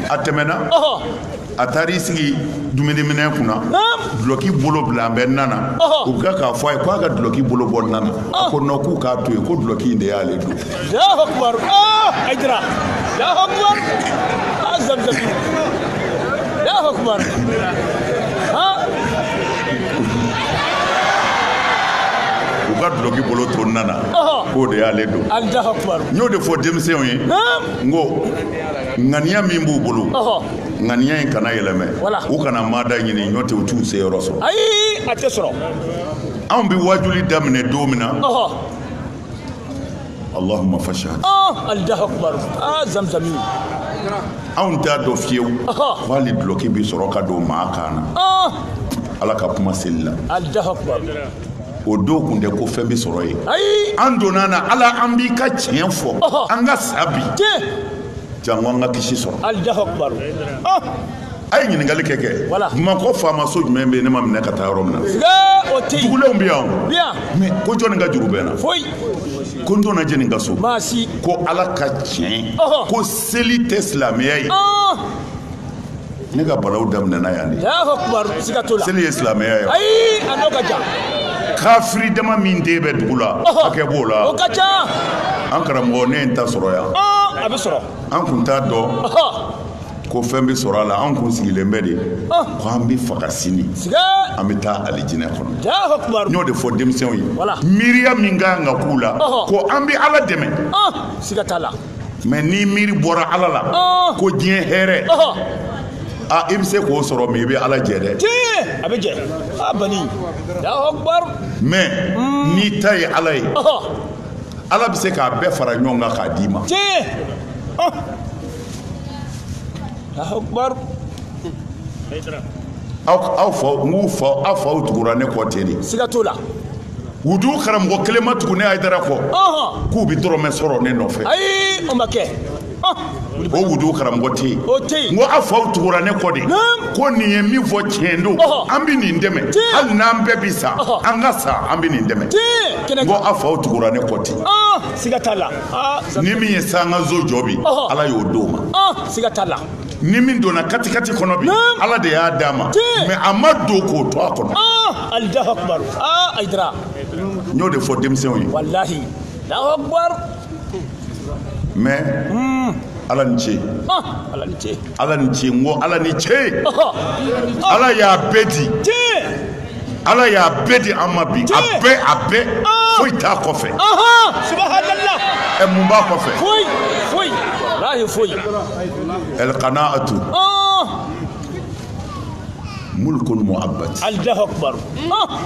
a tɛmɛna a taara i sigi dumuniminɛn kunna duloki bolo bilalen bɛ na na u bɛ k'a fɔ a ye k'a ka duloki bolo bɔ na na a ko non k'u k'a to yen ko duloki in de y'ale don Allahu akbar ah Aïdara Allahu akbar ah Zamzam Allahu akbar ah u ka duloki bolo to na na Ɔhɔ. k'o de y'ale don Allahu akbar n y'o de fɔ denmisɛnw ye Naam n ko ŋaniya min b'u bolo Ɔhɔ ŋaniya in kana yɛlɛmɛ Wala. u kana maada ɲini n'o tɛ u t'u se yɔrɔ sɔrɔ ayi a tɛ sɔrɔ anw bɛ waajuli daminɛ don min na Ɔhɔ Allahumma fashhad ah Allahu akbar ah zamzami anw t'a dɔn fiyewu ko hali dulɔki bɛ sɔrɔ ka don maa kan na ah! ala ka kuma seli la Allahu akbar o don kun tɛ ko fɛn bɛ sɔrɔ yen an donna na ala an b'i ka tiɲɛ fɔ an ka sa bi jango an ka kisi sɔrɔ Allahu akbar ah! a ye ɲininkali kɛ kɛ bamakɔ faamaso jumɛn bɛ yen ne ma minɛ ka taa yɔrɔ min na dugulenw bɛ yan mɛ ko jɔnni ka juru bɛ n na ko n donna jɛni ka so ko ala ka tiɲɛ ko seli tɛ silamɛya ye ne ka balaw daminɛna yan de seli ye silamɛya ye kafiri dama min de bɛ dugu la hakɛ b'o la o ka ca an karamɔgɔ ne ye n ta sɔrɔ yan a bɛ sɔrɔ an kun t'a dɔn ko fɛn bɛ sɔrɔ a la an kun sigilen bɛ de ah. ko an bɛ faga sini an bɛ taa alijinɛ kɔnɔ n y'o de fɔ denmisɛnw ye miiriya min ka kan ka k'u la ko an bɛ ala dɛmɛ ah, siga t'a la mɛ n'i miiri bɔra ala la ah. ko diɲɛ hɛrɛ a i bɛ se k'o sɔrɔ mɛ i bɛ ala jɛ dɛ a bɛ jɛ a bani mɛ mm. n'i ta ye ala ye ala bɛ se k'a bɛɛ fara ɲɔgɔn kan k'a d'i ma aw aw fa n k'u fa aw faw tugura ne kɔ ten de siga t'o la wudu karamɔgɔ kelen ma tugu ne ayidara kɔ k'u bɛ dɔrɔmɛ sɔrɔ ne nɔfɛ ayi o ma kɛ o wudu karamɔgɔ tɛ yen o tɛ yen n ko aw faw tugura ne kɔ de ko nin ye min fɔ tiɲɛ don an bɛ nin dɛmɛ hali n'an bɛɛ bɛ sa an ka sa an bɛ nin dɛmɛ n ko aw faw tugura ne kɔ ten siga t'a la ni min ye sankanso jɔ bi ala y'o d'o ma siga t'a la ni min donna katikati kɔnɔ bi ala de y'a d'a ma mɛ a ma don k'o to a kɔnɔ alahu akubar ayidara n y'o de fɔ denmisɛnw ye walahi alahu akubar mɛ ala ni ce ala ni ce ala ni ce n ko ala ni ce ala y'a bɛɛ di ala y'a bɛɛ di an ma bi a bɛɛ a bɛɛ foyi t'a kɔfɛ ɛ mun b'a kɔfɛ ɛlkana'atu mulkun mu'abbad allahu akbar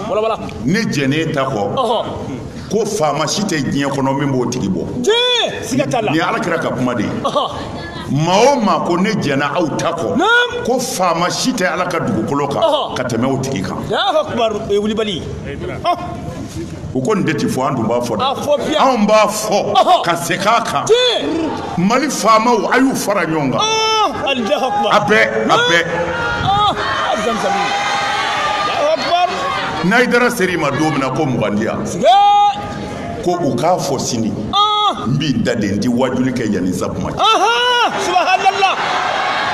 wala wala ne jɛnnen ta kɔ ko faama si tɛ diɲɛ kɔnɔ min b'o tigi bɔ siga t'a la nin ye alakira ka kuma de ye maa o maa ko ne jɛnna aw ta kɔ ko faama si tɛ ala ka dugukolo kan ka tɛmɛ o tigi kan wulibali u ko nin de ti fɔ an dun b'a fɔ dɛ anw b'a fɔ ka segin a kan mali faamaw a y'u fara ɲɔgɔn kan a bɛɛ a bɛɛ n'ayidara ser'i ma don min na ko mugan di yan ko u k'a fɔ sini ah! n b'i da de n tɛ waajuli kɛ yanni zakuma cɛ subahanala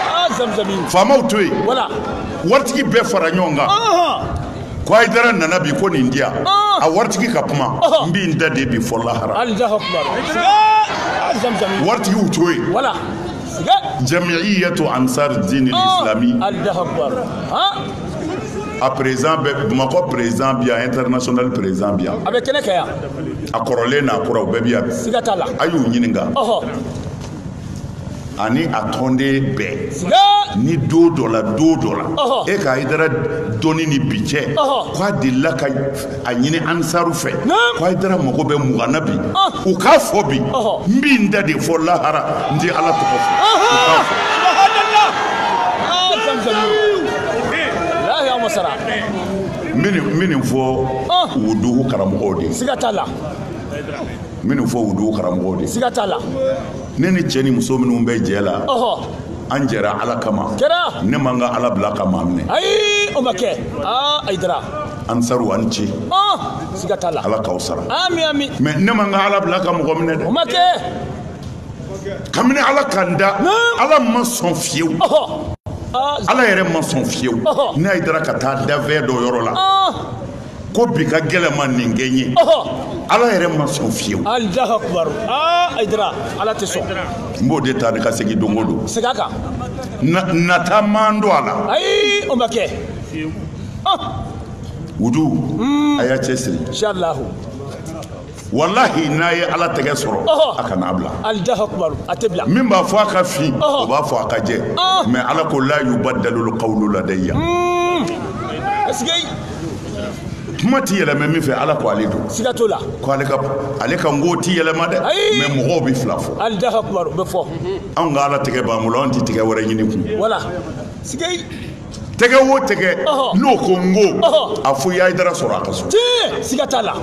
ah, zamzami faamaw to yen wala waritigi bɛɛ fara ɲɔgɔn kan ko ayidara nana bi ko nin di yan ah! a waritigi ka kuma n b'i n da de bi fɔ lahara waritigiw to yen wala jamiiyatu ansar diin islami a perezidan bɛɛ bamakɔ perezidan bi yan internasonali perezidan bi yan a bɛ kɛnɛ kɛ yan a kɔrɔlen n'a kuraw bɛɛ bi yan siga t'a la a y'u ɲininka ani a tɔnden bɛɛ ni don dɔ la don dɔ la e ka ayidara dɔnni ni bi cɛ k'a delila ka a ɲini ansaru fɛ ko ayidara mago bɛ mugan na bi ah. u k'a fɔ bi n b'i n da de fɔ lahara n tɛ ala tɔgɔ fɔ n bɛ nin fɔ ah. o dugu karamɔgɔw de ye siga t'a la n bɛ nin fɔ o dugu karamɔgɔw de ye siga t'a la ne ni cɛ ni muso minnu bɛ jɛ la an jɛra ala kama ne man ka ala bila ka maa minɛ ayi o ma kɛ aa ayidara ansaru a ni ce siga t'a la ala k'aw sara amin amin mɛ ne man ka ala bila ka mɔgɔ minɛ dɛ o ma kɛ kabini ala ka n da ala ma sɔn fiyewu ala yɛrɛ ma sɔn fiyewu ne ayidara ka taa dafɛn dɔ yɔrɔ la ko bi ka gɛlɛn ma nin kɛ n ye ala yɛrɛ ma sɔn fiyewu alahu akubaru aa ayidara ala tɛ sɔn n b'o de ta ni ka segin don o don segin a kan nata man don a la ayi o ma kɛ wudu a y'a cɛ siri walahi n'a ye ala tɛgɛ sɔrɔ a kana bila a tɛ bila min b'a fɔ a ka fin o b'a fɔ a ka jɛ mɛ ala ko la yubadalu kawlu ladaya hmm. kuma ti yɛlɛmɛ min fɛ ala ko ale don siga t'o la ko ale ka ale ka ngo ti yɛlɛma dɛ mɛ mɔgɔw bɛ fila fɔ alahu akubaru bɛ fɔ anw ka ala tɛgɛ b'an bolo anw ti tɛgɛ wɛrɛ ɲini kun wala siga tɛgɛ o tɛgɛ n'o ko n ko a fo i y'ayidara sɔrɔ a ka so siga t'a la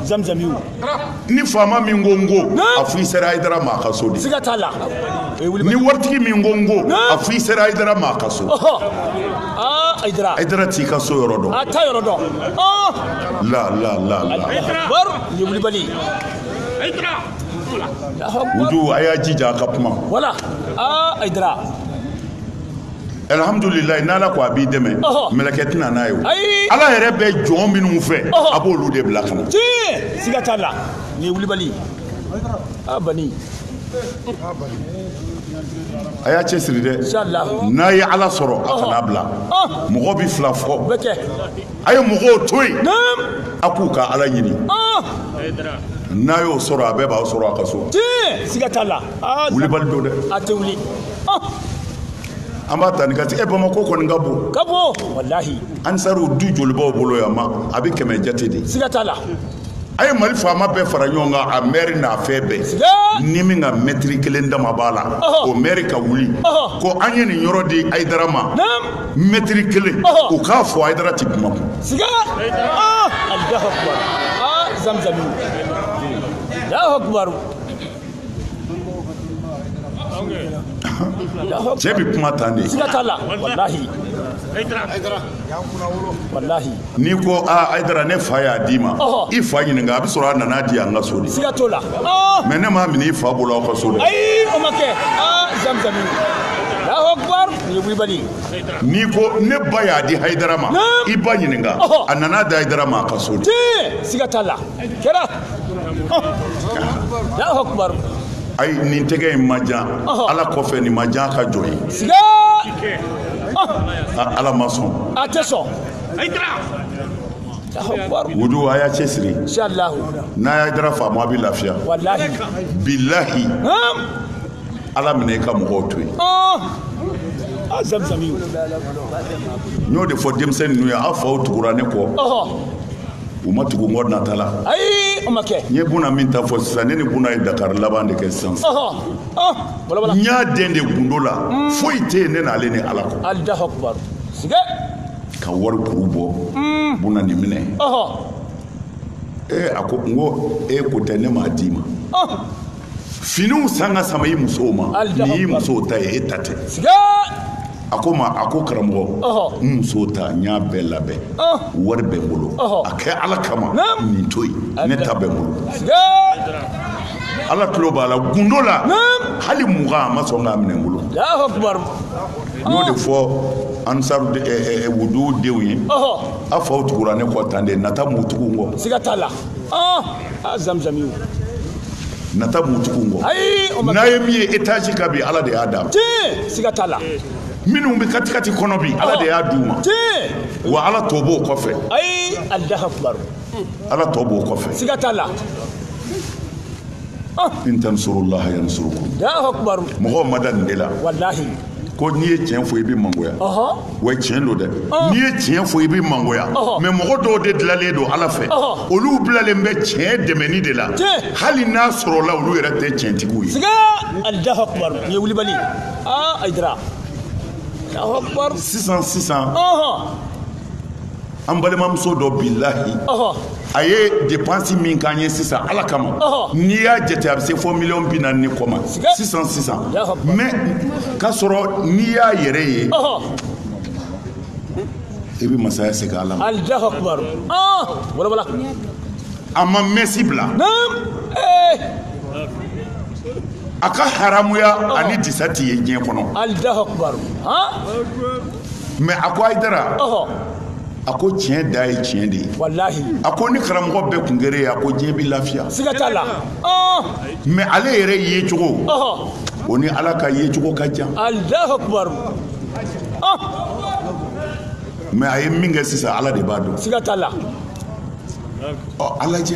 zamzami ni faama min ko n ko a fo i sera ayidara ma a ka so de siga t'a la ni waritigi min ko n ko a fo i sera ayidara ma a ka so ayidara ayidara t'i ka so yɔrɔ dɔn a t'a yɔrɔ dɔn la la la la ni wulibali ayidara wudu a y'a jija a ka kuma wala ayidara Alihamdulilahi n'ala ko a b'i dɛmɛ mɛlɛkɛ tɛ na n'a ye ala yɛrɛ bɛ jɔn minnu fɛ a b'olu de bila ka na siga t'a la ni wulibali a y'a cɛ siri dɛ n'a ye ala sɔrɔ a kan'a bila mɔgɔ bɛ fila fɔ bɛ kɛ a ye mɔgɔw to yen a k'u ka ala ɲini n'a y'o sɔrɔ a bɛɛ b'a sɔrɔ a ka so siga t'a la wulibali don dɛ a tɛ wuli an b'a ta ni ka tigɛ bamakɔ kɔni ka bon ka bon walahi ansariw du joli b'aw bolo yan ma a bɛ kɛmɛ jate de siga t'a la a ye mali faama bɛɛ fara ɲɔgɔn kan a mɛri n'a fɛn bɛɛ ni min ka mɛtiri kelen dama b'a la o mɛri ka wuli ko an ye nin yɔrɔ di ayidara ma mɛtiri kelen u k'a fɔ ayidara ti kuma kun ah, ah, cɛ bɛ kuma tan de siga t'a la walahi walahi n'i ko a ah, ayidara ne fa y'a d'i ma i fa ɲininka a bɛ sɔrɔ a nan'a di an ka so de siga t'o la oh. mɛ ne m'a minɛ i fa bolo aw ka so de ayi o ma kɛ ah, zamzami n'i ko ne ba y'a di hayidara ma i ba ɲininka a nan'a di hayidara ma a ka so de siga t'a la kɛra ayi nin tɛgɛ in ma jan ala kɔfɛ nin ma jan ka jɔ ye ala ma sɔn a tɛ sɔn wudu a y'a cɛsiri n'a ye ayidara faamu a bɛ lafiya bilahi ala minɛ i ka mɔgɔw to yen Ah, n y'o de fɔ denmisɛnnin ninnu ye aw faw tugura ne kɔ u ma tugu n kɔ nata la ayi o ma kɛ n ye buna min ta fɔ sisan ne ni buna ye dakari laban de kɛ sisan n y'a den de gundo la hmm. foyi tɛ yen ne n'ale ni ala kɔ alahu akubar siga ka wari kuru bɔ hmm. buna nin minɛ ee a ko n ko e ko tɛ ne m'a d'i ma finiw san ka sama i musow ma nin y'i musow ta ye e ta tɛ a ko ma a ko karamɔgɔ n muso ta n y'a bɛɛ labɛn wari bɛ n bolo a kɛ ala kama nin to yen ne ta bɛ n bolo ala tulo b'a la gundo la hali mugan a ma sɔn k'a minɛ n bolo n y'o de fɔ ansaru eh, eh, eh, dudenw ye a faw tugura ne kɔ tan de nata m'u tugu n kɔ siga t'a la a zamzami o nata m'u tugu n kɔ ayi o ma n'a ye min ye etazi kan bi ala de y'a d'a ma tiɲɛ siga t'a la minnu bɛ katikati kɔnɔ bi ala de y'a d'u ma tiɲɛ wa ala tɔ b'o kɔfɛ ayi alahu akubar ala tɔ b'o kɔfɛ siga t'a la in tansurullaha yansurukum alahu akubar mɔgɔw ma da nin de la walahi ko n'i ye tiɲɛ fɔ i bɛ mangoya wa tiɲɛ don dɛ n'i ye tiɲɛ fɔ i bɛ mangoya mɛ mɔgɔ dɔw de dilanlen don ala fɛ olu bilalen bɛ tiɲɛ dɛmɛni de la hali n'a sɔrɔla olu yɛrɛ tɛ tiɲɛtigiw ye ye wulibali sisan sisan an balimamuso dɔ bilahi a ye depansi min k'an ye sisan ala kama n'i y'a jate a bɛ se fo miliyɔn bi naani ni kɔ ma sisan sisan mɛ k'a sɔrɔ n'i y'a yɛrɛ ye i bɛ masaya segin ala ma a ma mɛsi bila a ka haramuya ani disa t'i ye diɲɛ kɔnɔ mɛ a ko ayidara a ko tiɲɛ da ye tiɲɛ de ye a ko ni karamɔgɔ bɛɛ kun kɛra e ye a ko diɲɛ bɛ lafiya mɛ ale yɛrɛ yecogo o ni ala ka yecogo ka jan mɛ a ye min kɛ sisan ala de b'a dɔn ala cɛ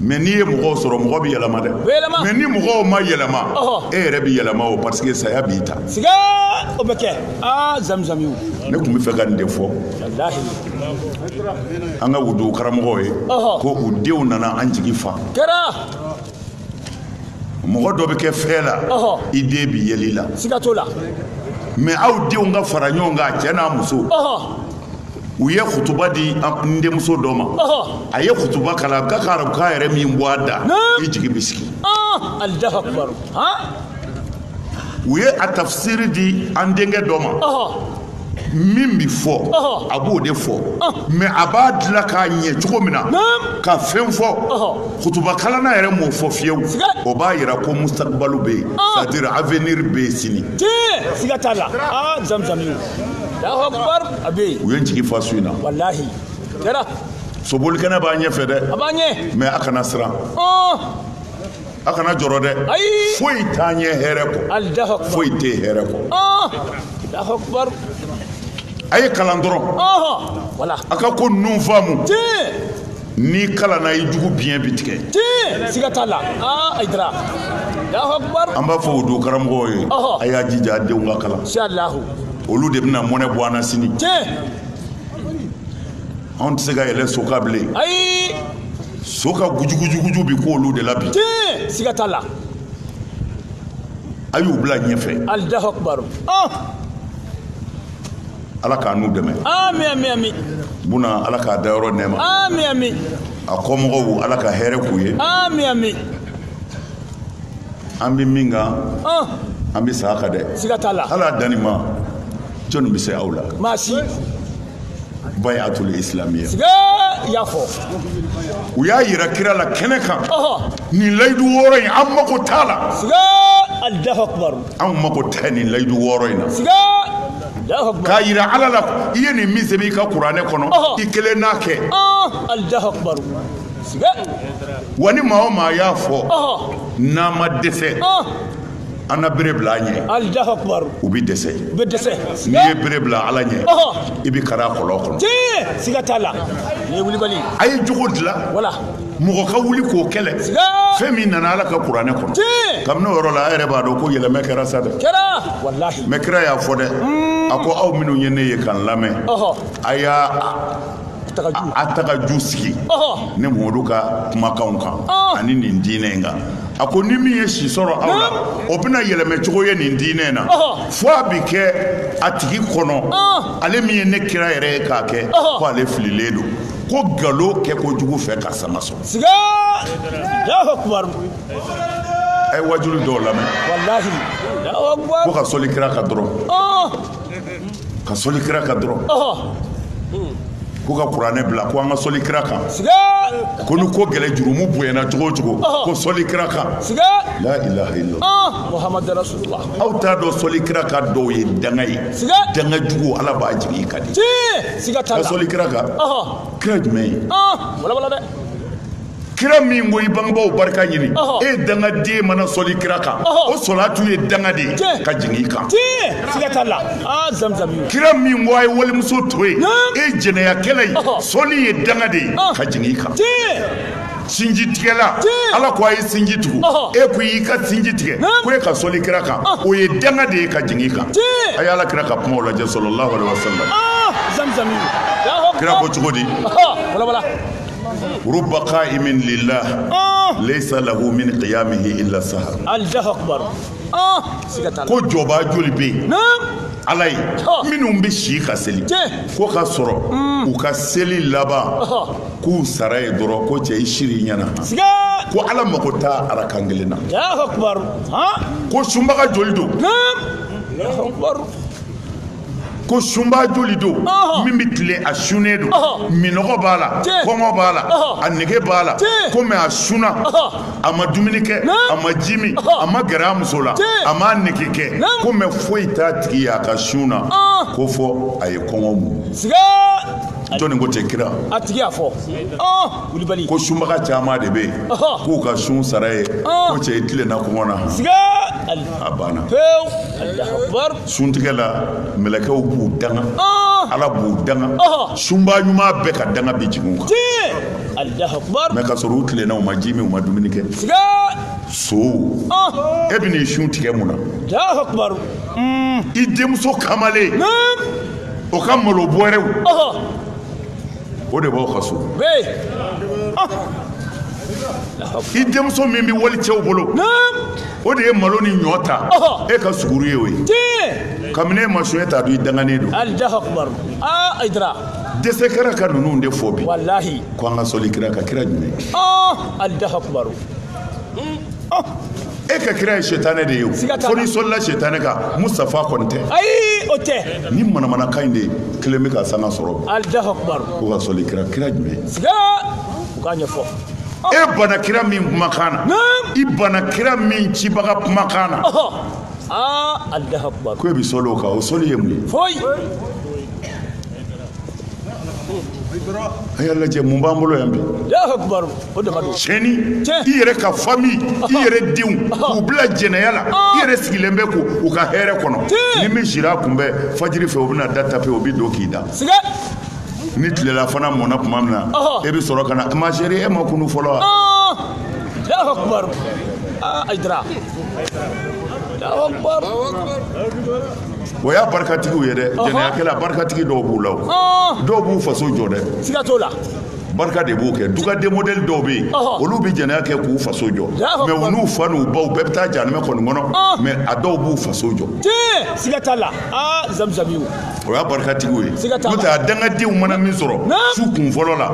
mɛ n'i ye mɔgɔw sɔrɔ mɔgɔ bɛ yɛlɛma dɛ mɛ ni mɔgɔw ma yɛlɛma e yɛrɛ bɛ yɛlɛma o parce que saya b'i ta o bɛ kɛ zamizami ne tun bɛ fɛ ka nin de fɔ an ka wudu karamɔgɔw ye ko u denw nana an jigi fa mɔgɔ dɔ bɛ kɛ fɛn la i den bɛ yɛlɛ i la mɛ aw denw ka fara ɲɔgɔn kan cɛ n'a muso u ye kutuba di n denmuso dɔ ma a ye kutuba kalan ka ka arabukan yɛrɛ min bɔ a da i jigi bɛ sigi u ye a tafisiri di an denkɛ dɔ ma min bɛ fɔ a b'o de fɔ mɛ a b'a dilan k'a ɲɛ cogo min na ka fɛn fɔ kutubakalanna yɛrɛ m'o fɔ fiyewu o b'a yira ko mustakibalu bɛ yen c'est à dire avenir bɛ yen sini siga t'a la aa zamzam ye a bɛ yen u ye n jigi fa su in na walahi kɛra sobolikɛnɛ b'a ɲɛfɛ dɛ a b'a ɲɛ mɛ a kana siran a kana jɔrɔ dɛ foyi t'a ɲɛ hɛrɛ kɔ foyi tɛ hɛrɛ kɔ a ye kalan dɔrɔn a ka ko ninnu faamu n'i kalanna i jugu biɲɛ bi tigɛ siga t'a la ayidara an b'a fɔ o don karamɔgɔw ye a y'a jija a denw ka kalan olu de bɛna mɔnɛ bɔ an na sini anw tɛ se ka yɛlɛ so kan bilen ayi so ka gujugujuguju bi ko olu de la bi tiɲɛ siga t'a la a y'u bila ɲɛfɛ alahu akubaru ɔn ala k'a n'u dɛmɛ amin amin amin buna ala k'a dayɔrɔ nɛɛma amin amin a kɔmɔgɔw ala ka hɛrɛ k'u ye amin amin an bɛ min kan ɔn an bɛ sa a kan dɛ siga t'a la ala danni ma jɔnni bɛ se aw la maa si bayatul islamiyya i y'a fɔ u y'a yira kira la kɛnɛ kan nin layidu wɔɔrɔ in an mako t'a la Allahu akbar anw mako tɛ nin layidu wɔɔrɔ in na k'a yira ala la i ye nin min sɛbɛn i ka kuranɛ kɔnɔ i kelen n'a kɛ Allahu akbar wa ni maa o maa y'a fɔ n'a ma dɛsɛ an na bere bila a ɲɛ Allahu akbar u bɛ dɛsɛ u bɛ dɛsɛ n'i ye bere bila ala ɲɛ i bɛ kari a kɔlɔn kɔnɔ tiɲɛ siga t'a la nin ye wulibali ye a ye jogo dilan wala mɔgɔ ka wuli k'o kɛlɛ fɛn min nana ala ka kuranɛ kɔnɔ kabini o yɔrɔ la a yɛrɛ b'a dɔn ko yɛlɛmɛ kɛra sa dɛ mɛ kira y'a fɔ dɛ a ko aw minnu ye ne ye ka n lamɛn a y'a a tagaju sigi ne mamadu ka kumakanw kan ani nin diinɛ in kan a ko ni min ye si sɔrɔ aw la o bɛna yɛlɛmɛ cogo ye nin diinɛ in na fo a bɛ kɛ a tigi kɔnɔ ale min ye ne kira yɛrɛ ye k'a kɛ ko ale fililen don ko nkalon kɛ kojugu fɛ ka sanga sɔrɔ siga a ye waajuli dɔw lamɛn ko ka sɔli kira kan dɔrɔn ka sɔli kira kan dɔrɔn ko ka kuranɛ bila ko an ka sɔli kira kan ko ni ko gɛlɛ jurumu bonyana cogo o cogo ko sɔli kira kan la ilaha illallah muhammadu rasulullah aw t'a dɔn sɔli kira kan dɔw ye danga ye danga jugu ala b'a jigin i kan dɛ ka sɔli kira kan kira jumɛn ye kira min ko i bangebaaw barika ɲini e dangaden mana sɔli kira kan o sɔlatu ye danga de ye ka jigin i kan kira min ko a ye walimuso to yen e jɛnɛyakɛla ye sɔli ye danga de ye ka jigin i kan sinji tigɛla ala ko a ye sinji tugu e ko y'i ka sinji tigɛ ko e ka sɔli kira kan o ye danga de ye ka jigin i kan a ye ala kira ka kumaw lajɛ sallallahu alaihi wasallam kira ko cogo di rubba ka'imin lillah laisa lahu min kiyamihi illa sahar ko jɔba joli bɛ yen ala ye minnu bɛ si ka seli ko ka sɔrɔ u ka seli laban k'u sara ye dɔrɔn ko cɛ i sira i ɲɛ na ko ala mago t'a arakan kelen na ko sunbaga joli don ko sunba joli don min bɛ tilen a sunnen don minɔgɔ b'a la kɔngɔ b'a la a nege b'a la ko mɛ a sunna a ma dumuni kɛ a ma ji min a ma gɛrɛ a muso la a ma nege kɛ ko mɛ foyi t'a tigi y'a ka sun na ko fo a ye kɔngɔ muɲu jɔni ko ten kira a tigi y'a fɔ kulubali ko sunbaga caman de bɛ yen k'u ka sun sara ye ko cɛ i tilenna kɔngɔ na a banna pewu suntigɛ la mɛlɛkɛw b'u danga ala b'u danga sunba ɲuman bɛɛ ka danga bɛ jigin u kan mɛ ka sɔrɔ u tilenna u ma ji min u ma dumuni kɛ so e bɛ n'i sun tigɛ mun na i denmuso kamalen o ka malo bɔrɛw o de b'aw ka so i denmuso min bɛ wali cɛw bolo o de ye malo ni ɲɔ ta e ka suguru ye o ye kabini e ma sun e t'a dɔn i danganen don dɛsɛ kɛra ka ninnu de fɔ bi ko an ka sɔli kira ka kira jumɛn oh, e ka kira ye sɛtanɛ de ye o fo n'i sɔlila sɛtanɛ kan mustafa kɔni tɛ ayi o tɛ ni manamanakan in de kelen bɛ ka sanga sɔrɔ bi allahu akubaru ko ka sɔli kira kira jumɛn siga u k'a ɲɛfɔ e banna kira min kumakan na i banna kira min cibaga kumakan na aa allahu akubaru ko e bɛ sɔli o kan o sɔli ye mun ye foyi a y'a lajɛ mun b'an bolo yan bi cɛnni i yɛrɛ ka famille i yɛrɛ denw k'u bila jɛnɛya la i yɛrɛ sigilen bɛ k'u ka hɛrɛ kɔnɔ ni min sira kun bɛ fajiri fɛ o bɛna da tape o bɛ don k'i da ni tilela fana mɔna tuma min na e bɛ sɔrɔ ka na ma chérie e ma kunu fɔlɔ wa o y'a barikatigiw ye dɛ jɛnɛyakɛla barikatigi dɔw b'u la o dɔw b'u faso jɔ dɛ siga t'o la barika de b'o kɛ dugaden modèle dɔw bɛ yen olu bɛ jɛnɛya kɛ k'u faso jɔ mɛ u n'u fa n'u baw bɛɛ bɛ taa janɛmɛ kɔni kɔnɔ mɛ a dɔw b'u faso jɔ siga t'a la aa zamzamiw o y'a barikatigiw ye n'o tɛ a dangadenw mana min sɔrɔ su kun fɔlɔ la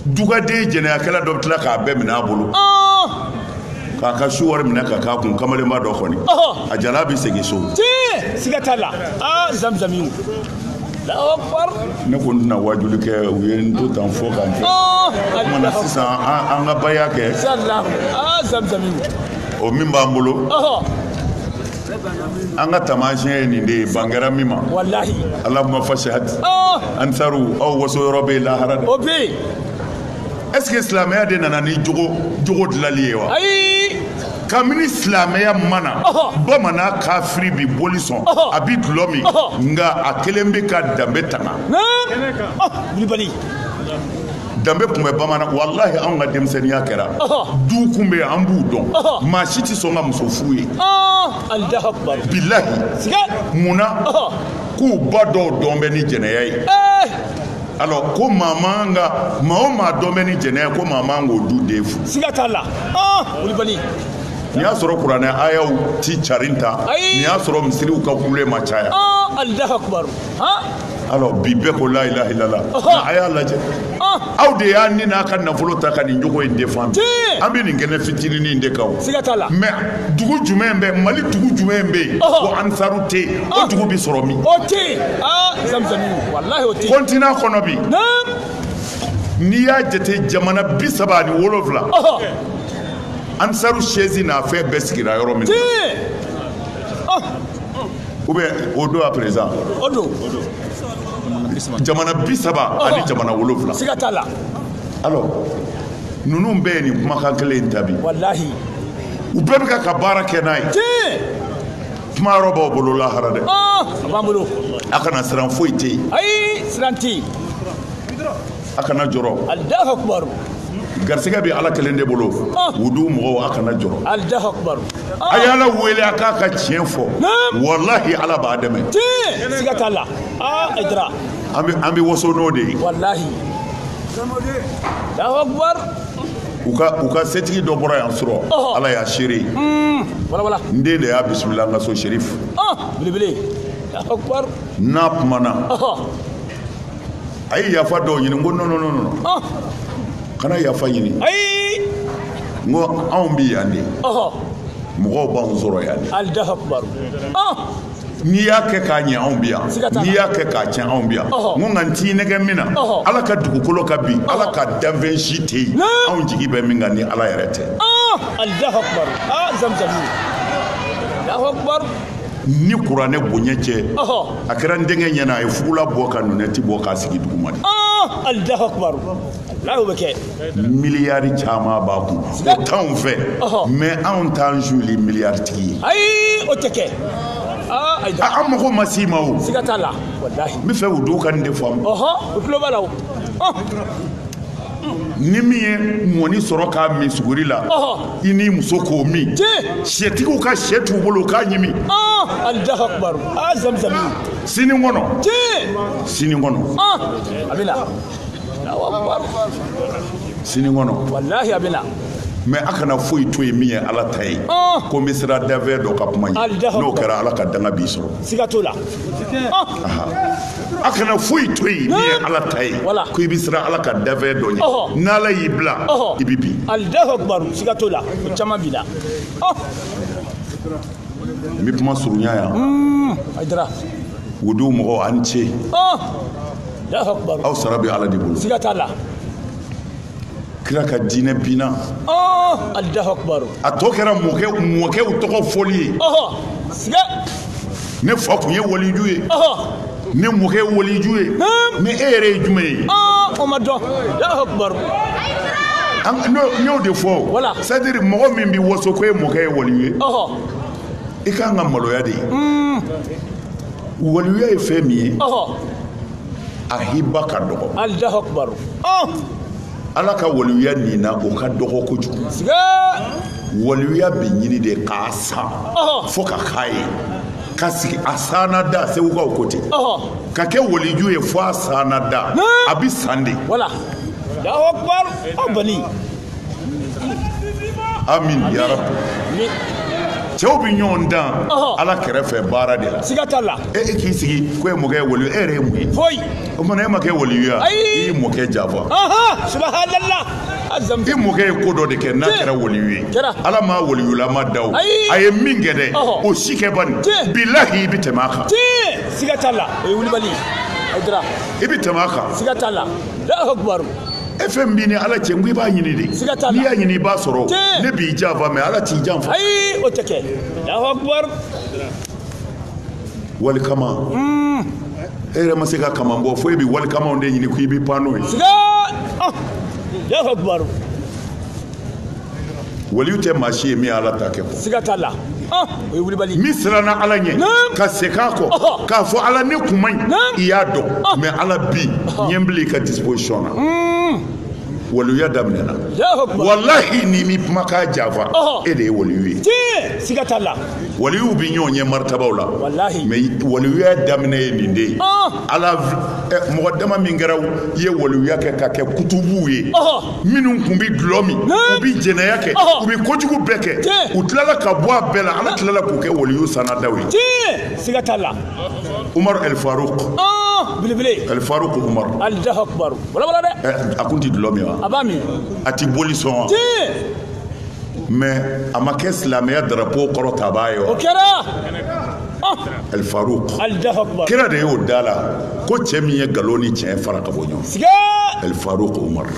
dugaden jɛnɛyakɛla dɔ bɛ tila k'a bɛɛ minɛ a bolo k'a ka su wari minɛ ka k'a kun kamalenba dɔ kɔni a jalan bɛ segin so siga t'a la aa zamzamiw ne ko n tɛna waajuli kɛ u ye n to tan fo ka n kɛ kuma na sisan an ka baya kɛ o min b'an bolo an ka taamasiyɛn ye nin de ye ban kɛra min ma walahi allahumma fashhad oh! ansaru aw waso yɔrɔ bɛ lahara de o bɛ yen est ce que silamɛya de nana ni jogo jogo dilali ye wa ayi kabini silamɛya ma na bamanan kafiri bi boli sɔn a bi dulɔ min nka a kɛlen bɛ ka danbe tanga kulibali danbe tun bɛ bamanan walahi anw ka denmisɛnninya kɛra du kun bɛ an b'u dɔn maa si tɛ sɔn ka muso furu yen bilahi mun na k'u ba dɔw dɔn bɛ ni jɛnɛya ye alors ko maa man ka maa o maa dɔn bɛ ni jɛnɛya ko maa man k'o du den furu siga t'a la kulubali n'i y'a sɔrɔ kuranɛ ayaw ti carin ta n'i y'a sɔrɔ misiriw ka kule ma caya alors bi bɛɛ ko la ilaha illallah a y'a lajɛ aw de y'a ni n'a ka nafolo ta ka nin jogo in défendre an bɛ nin kɛnɛ fitininin in de kan o siga t'a la mais dugu jumɛn bɛ mali dugu jumɛn bɛ yen ko ansaru tɛ yen o dugu bɛ sɔrɔ min o tɛ yen aa zamzami walahi o tɛ yen continent kɔnɔ bi n'i y'a jate jamana bi saba ani wolonwula ansaru siège n'a fɛn bɛɛ sigira yɔrɔ min na ou bien o don à présent o don jamana bi saba ani jamana wolonwula siga t'a la alors ninnu bɛɛ ye nin kumakan kelen in ta bi walahi u bɛɛ bɛ ka baara kɛ n'a ye kuma yɔrɔ b'aw bolo lahara dɛ a b'an bolo a kana siran foyi tɛ yen ayi siran tɛ yen a kana jɔrɔ alahu akubaru garisɛgɛ bɛ ala kelen de bolo wudu mɔgɔw a kana jɔrɔ alahu akubaru a ye ala wele a k'a ka tiɲɛ fɔ walahi ala b'a dɛmɛ tiɲɛ siga t'a la Hayidara an bɛ an bɛ waso n'o de ye walahi alahu akubaru u ka u ka setigi dɔ bɔra yan surɔ ala y'a seere walahi n den de y'a bisimila an ka so serif belebele alahu akubaru n'a kumana a ye yafa dɔ ɲini n ko non non non non ɔh kana yafa ɲini ayi n ko anw bɛ yan de ɔhɔ mɔgɔw b'anw sɔrɔ yan de alahu akubaru ɔh n'i y'a kɛ k'a ɲɛ anw bɛ yan Siga t'a la. n'i y'a kɛ k'a tiɲɛ anw bɛ yan Ɔhɔ. n ko nka n t'i nɛgɛn min na Ɔhɔ. ala ka dugukolo kan bi ala ka danfɛn si tɛ yen Ne. anw jigi bɛ min kan ni ala yɛrɛ tɛ ɔh alahu akubaru aa zamzami alahu akubaru ni kuranɛ bonya cɛ a kɛra n denkɛ ɲɛna a ye fugula bɔ ka nunɛti bɔ k'a sigi duguma de alahu akubar ala b'a kɛ miliyari caman b'a kun o t'anw fɛ mais anw t'an suuli miliyari tigi ye ayi o tɛ kɛ an mago ma s'i ma o siga t'a la walahi n bɛ fɛ u dɔw ka nin de faamu ɔhɔ u tulo b'a la o ni min ye mɔni sɔrɔ k'a min suguri la i n'i muso k'o min setigiw ka shɛ t'u bolo k'a ɲimi alahu akubaru a zamzami sini kɔnɔ sini kɔnɔ a bɛ na sini kɔnɔ walahi a bɛ na mais a kana foyi to yen min ye ala ta ye ko n bɛ siran danfɛn dɔ ka kuma ɲɛ n'o kɛra ala ka danga b'i sɔrɔ siga t'o la a kana foyi to yen min ye ala ta ye ko i bɛ siran ala ka dafɛn dɔ ɲɛ n'ala y'i bila i bɛ bin alahu akubaru siga t'o la o caman b'i la n bɛ kuma surunya yan hmm, aidara wudu mɔgɔw a ni ce aw sara bɛ ala de bolo siga t'a la kira ka diinɛ binna oh, a tɔ kɛra mɔkɛ mɔkɛw tɔgɔ fɔli ye ne fa tun ye waliju ye ne mɔkɛ ye waliju ye ni e yɛrɛ ye jumɛn ye oh, o ma dɔn n y'o de fɔ c'est à dire mɔgɔ min bɛ waso ko e mɔkɛ ye waliyu ye i ka kan ka maloya de ye hmm. waliyuya ye fɛn min ye a hiba ka dɔgɔ alahu akubar ala ka waliyuya nin na o ka dɔgɔ kojugu waliyuya bɛ ɲini de k'a san fo ka k'a ye ka sigi a sanna da segukaw ko ten ka kɛ waliju ye fo a sanna da a bɛ san de wala alahu akubar aw bali amin ya rabi cɛw bɛ ɲɔgɔn dan ala kɛrɛfɛ baara de la siga t'a la e e k'i sigi ko e mɔkɛ ye waliyu e yɛrɛ ye mun ye foyi o tuma na e ma kɛ waliyu ye i y'i mɔkɛ janfa subahanallah i mɔkɛ ye ko dɔ de kɛ n'a kɛra waliyu ye ala m'a waliyulama da o a ye min kɛ dɛ o si kɛ bani bilahi i bɛ tɛmɛ a kan siga t'a la o ye wulibali ye i bɛ tɛmɛ a kan siga t'a la e fɛn min b'i ni ala cɛ n ko i b'a ɲini de siga t'a la n'i y'a ɲini i b'a sɔrɔ Tiɲɛ. ne b'i janfa mais ala t'i janfa ayi o tɛ kɛ alahu akubar wali kaman e yɛrɛ ma se ka kaman bɔ fo e bɛ wali kamanw de ɲini ko i bɛ pan n'o ye siga ah, alahu akubar waliyu tɛ maa si ye min ye ala ta kɛ kɔ siga t'a la ah, o ye wulibali min siranna ala ɲɛ ka segin a kɔ k'a fɔ ala ne kun man ɲi i y'a dɔn ah. mais ala bi diɲɛ bila i ka disposition na hmm. waliyuya daminɛna walahi n'i m'i kumakan janfa e de ye waliyu ye siga t'a la waliyuw bi ɲɔgɔn ɲɛ maritabaw la mais waliyuya daminɛ ye nin de ye ah. ala eh, mɔgɔ dama min kɛra ye waliyuya kɛ ka kɛ kutubuw ye minnu kun bɛ dulɔ min u bɛ jɛnɛya kɛ u bɛ kojugu bɛɛ kɛ u tilala ka bɔ a bɛɛ la ala tilala k'u kɛ waliyu sanadaw ye siga t'a la umaru alifaruk belebele alifaruk umaru alahu akubaru walawala dɛ a kun tɛ dulɔ min wa a b'a min a tɛ boli sɔn wa mais a ma kɛ silamɛya darapo kɔrɔtabaa ye wa o kɛra alifaruku kira de y'o d'a la ko cɛ min ye nkalon ni tiɲɛ fara ka bɔ ɲɔgɔn alifaruku umaru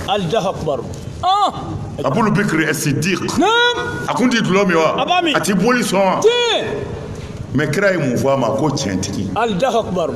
abulu bikiri ɛsidik a kun ti dulɔ min wa a ti boli sɔn wa mais kira ye mun fɔ a ma ko tiɲɛtigi alifaru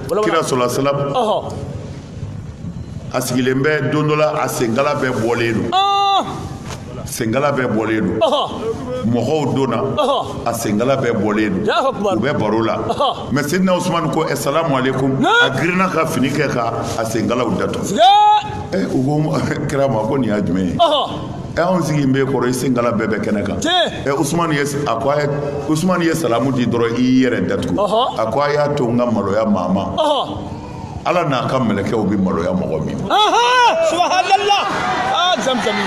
kira salalahu alayhi wasalam a sigilen bɛ don dɔ la a senkala bɛɛ bɔlen don senkala bɛɛ bɔlen don mɔgɔw donna a senkala bɛɛ bɔlen don u bɛ baro la mais sidina usumani ko asalamu aleykum a girinna ka fini kɛ ka a senkalaw datugu u ko kira ma ko nin y'a jumɛn ye ɛ anw sigilen b'i kɔrɔ i senkala bɛɛ bɛ kɛnɛ kan usumani ye salamu di dɔrɔn i y'i yɛrɛ datugu a ko a y'a to n ka maloya maa ma ala n'a ka mɛlɛkɛw bɛ maloya mɔgɔ min ma subahanallah aa zamzami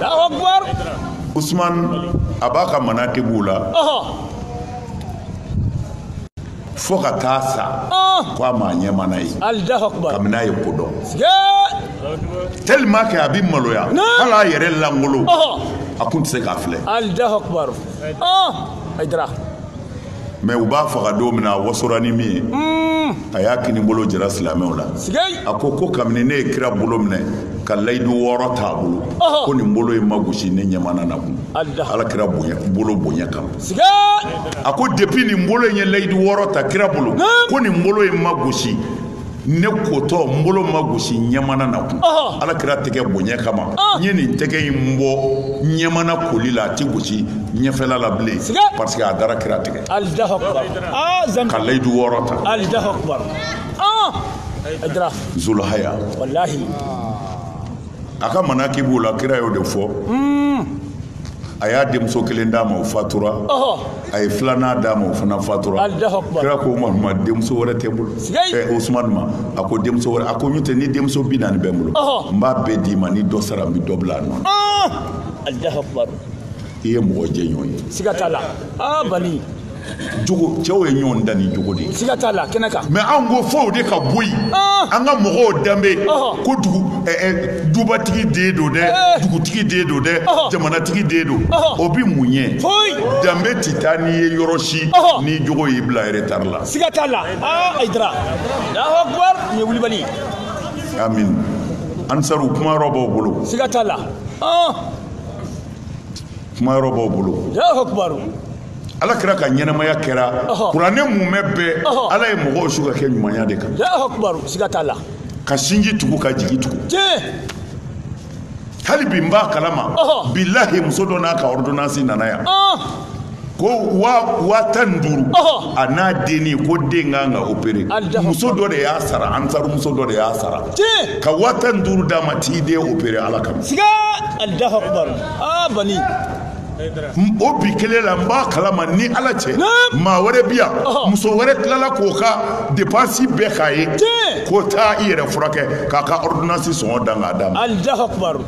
alahu akubar usumani a b'a ka manakibu la fo ka taa sa ah! ko a m'a ɲɛmana ye kabini a ye ko dɔn tellement que a bɛ maloya hali a yɛrɛ langolo a kun tɛ se k'a filɛ mais u b'a faga don min na a wasora ni min ye hmm. a y'a kini bolo jira silamɛw la a ko ko kabini ne ye kira bolo minɛ ka layidu wɔɔrɔ t'a bolo ko nin bolo in ma gosi ne ɲɛmana na kun ala kira bolo bonya kama a ko depuis nin bolo in ye layidu wɔɔrɔ ta kira bolo ko nin bolo in ma gosi ne kotɔ n bolo ma gosi ɲɛmana na kun ala kira tɛgɛ bonya kama n ye nin tɛgɛ in bɔ ɲɛmana koli la a tɛ gosi ɲɛfɛla la bilen parce que a dara kira tɛgɛ ka layidu wɔɔrɔ ta zulhaya a ka manakibu la kira y'o de fɔ a y'a denmuso kelen d'a ma o fatura a ye filanan d'a ma o fana fatura kira ko a ma denmuso wɛrɛ tɛ n bolo usumani ma a ko denmuso wɛrɛ a ko n'o tɛ ni denmuso bi naani bɛ n bolo n b'a bɛɛ d'i ma ni dɔ sara n bɛ dɔ bila a nɔ na i ye mɔgɔ jɛɲɔgɔn ye siga t'a la aa bani jogo cɛw ye ɲɔgɔn dan ni jogo de ye siga t'a la kɛnɛ kan mais anw ko fo o de ka bɔ yen ah. an ka mɔgɔw danbe ko dugu eh, eh, dubatigi den don dɛ eh. dugutigi den don dɛ jamanatigi den don o bi mun ɲɛ danbe tɛ taa n'i ye yɔrɔ si ni jogo y'i bila retard la siga t'a la ah, ayidara nin ye wulibali amin ansaru kuma yɔrɔ b'aw bolo siga t'a la ah. kuma yɔrɔ b'aw bolo ala kira ka ɲɛnamaya kɛra kuranɛ mumɛ bɛɛ ala ye mɔgɔw su ka kɛ ɲumanya de kan siga t'a la ka sinji tugu ka jigi tugu hali bi n b'a kalama bilahi muso dɔ n'a ka ordonnance nana yan ko waa tan ni duuru a n'a denni ko den kan ka opere muso dɔ de y'a sara ansaru muso dɔ de y'a sara ka waa tan ni duuru d'a ma t'i den opere ala kama siga alahu akubaru aa bani o bi kelen la n b'a kalama ni ala cɛ maa wɛrɛ bi yan muso wɛrɛ tilala k'o ka depansi bɛɛ k'a ye ko taa i yɛrɛ furakɛ k'a ka ɔridonansi sɔngɔ dan k'a d'a ma alahu akubaru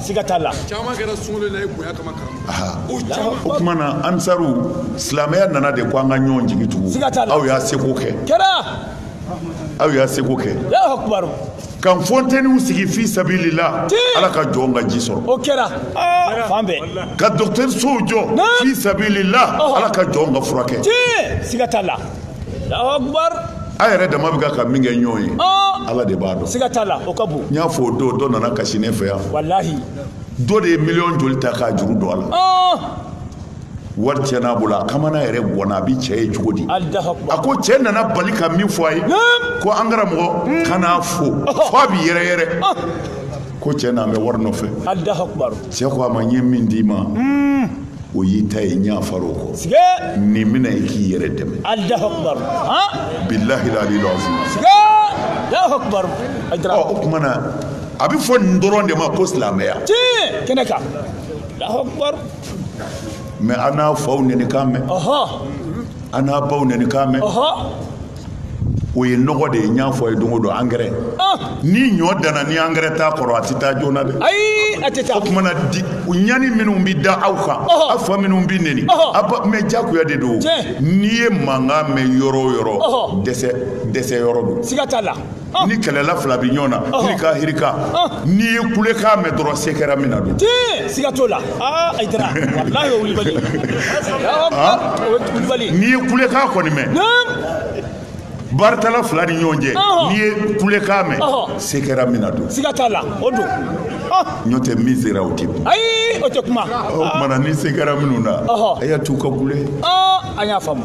siga t'a la caman kɛra sunkalo la i bonya kama karamɔgɔ o tuma na ansaru silamɛya nana de ko an ka ɲɔgɔn jigi tugu aw y'a seko kɛ kɛra aw y'a seko kɛ ka fonteniw sigi fi sabililahi ala ka jɔn ka ji sɔrɔ o kɛra ah, fan bɛɛ ka dɔgɔtɛrisow jɔ fi sabililahi ala ka jɔn ka furakɛ siga t'a la a yɛrɛ dama bɛ ka ka min kɛ ɲɔgɔn ye ah. ala de b'a dɔn siga t'a la o ka bon n y'a fɔ o don dɔ nana kasi ne fɛ yan walahi dɔ de ye miliyɔn joli ta k'a juru don a la ah. wari cɛ n'a bolo a kamana yɛrɛ ganna a bɛ cɛ ye cogo di a ko cɛ nana bali ka min fɔ a ye ko an karamɔgɔ hmm. kan'a fo fo a bɛ yɛrɛyɛrɛ ah. ko cɛ nalen bɛ wari nɔfɛ cɛ ko a ma n ye min d'i ma hmm. o y'i ta ye n yafar'o kɔ nin mina i k'i yɛrɛ dɛmɛ bilahi aliyil azim o tuma na a bɛ fɔ nin dɔrɔn de ma ko silamɛya kɛnɛ kan mɛ an n'a faw nenikan mɛn an n'a baw nenikan mɛn o ye nɔgɔ de ye n y'a fɔ a ye don o don angɛrɛ ni ɲɔ danna ni angɛrɛ t'a kɔrɔ a tɛ taa joona dɛ ayi a tɛ taa o tuma na di ɲani minnu bɛ da aw kan a fa minnu bɛ neni a ba mɛ jagoya de don n'i ye mankan mɛn yɔrɔ o yɔrɔ dɛsɛ yɔrɔ don siga t'a la ah. ni kɛlɛla fila bɛ ɲɔgɔn na ah. hirika hirika ah. n'i ye kulekan mɛn dɔrɔn se kɛra min na don tiɲɛ siga t'o la aa ayidara walahi o wulibali o ye wulibali n'i ye kulekan kɔni mɛn baritala fila ni ɲɔgɔn cɛ n'i ye kulekan mɛn se kɛra min na don siga t'a la o don ɲɔ tɛ min sera o tɛ kuma ayi o tɛ kuma o tumana ni se kɛra minnu na a y'a t'u ka kule an y'a faamu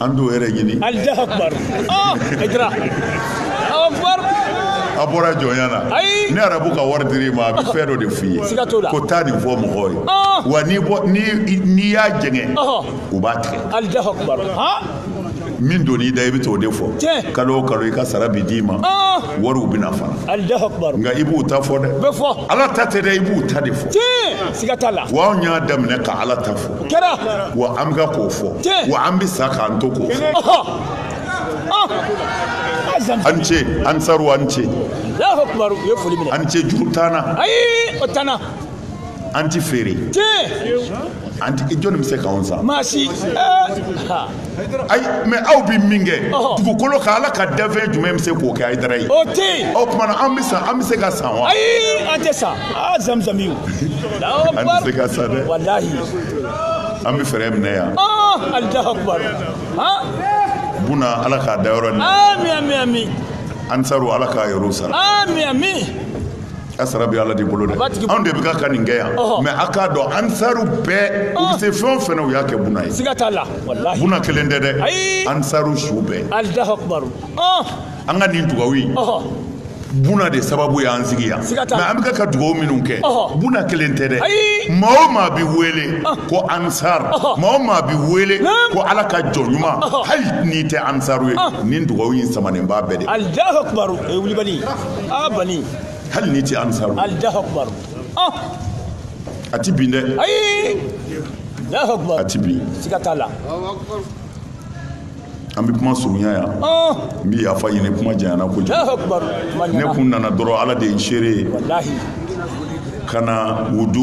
an t'o yɛrɛ ɲini alahu akubar ah, ayidara a bɔra jɔnya na ni arabu ka wari dir'i ma a bɛ fɛn dɔ de f'i ye ko taa nin fɔ mɔgɔw ye ah. wa n'i y'a jɛngɛ u b'a tigɛ alahu akubar min donn'i da i bɛ t'o de fɔ kalo o kalo i ka sara bi d'i ma ah. wariw bɛ na fana nka i b'u ta fɔ dɛ ala ta tɛ dɛ i b'u ta de fɔ wa anw y'a daminɛ ka ala ta fɔ kɛra wa an bɛ k'o fɔ wa an bɛ sa k'an to k'o fɔ ah! an ce ansaru an ce an ce juru t'an na ayi o t'an na an ti feere an ti jɔnni bɛ se k'anw san maa si eh! ayi mɛ aw bɛ min kɛ dugukolo kan ala ka danfɛn jumɛn bɛ se k'o kɛ a ye dara ye o tɛ yen o tuma an bɛ san an bɛ se ka san wa ayi an tɛ san aa zamuzami o an tɛ se ka san dɛ walahi an bɛ fɛɛrɛ minɛ yan alahu akubar buna ala k'a da yɔrɔ ni ami ami ami ansaru ala k'a yɔrɔ sara ami ami A sara bɛ ala de bolo dɛ anw de bɛ ka ka nin kɛ yan mɛ a k'a dɔn ansaru bɛɛ u se fɛn o fɛn na u y'a kɛ buna ye siga t'a la buna kelen tɛ dɛ ayi ansaru su bɛɛ an ka nin dugawu ye buna de sababu y'an sigi yan mɛ an bɛ ka ka dugawu minnu kɛ buna kelen tɛ dɛ maa o maa bɛ wele ko ansaru maa o maa bɛ wele ko ala ka jɔn ɲuman hali n'i tɛ ansaru ye ni dugawu in samanen b'a bɛɛ de kulubali hali n'i tɛ ansaru a tɛ bin dɛ ayi a tɛ bin siga t'a la an bɛ kuma surunya yan n bɛ yafa ɲini kuma janyana kojugu ne kun nana dɔrɔn ala de ye n seere ye ka na u du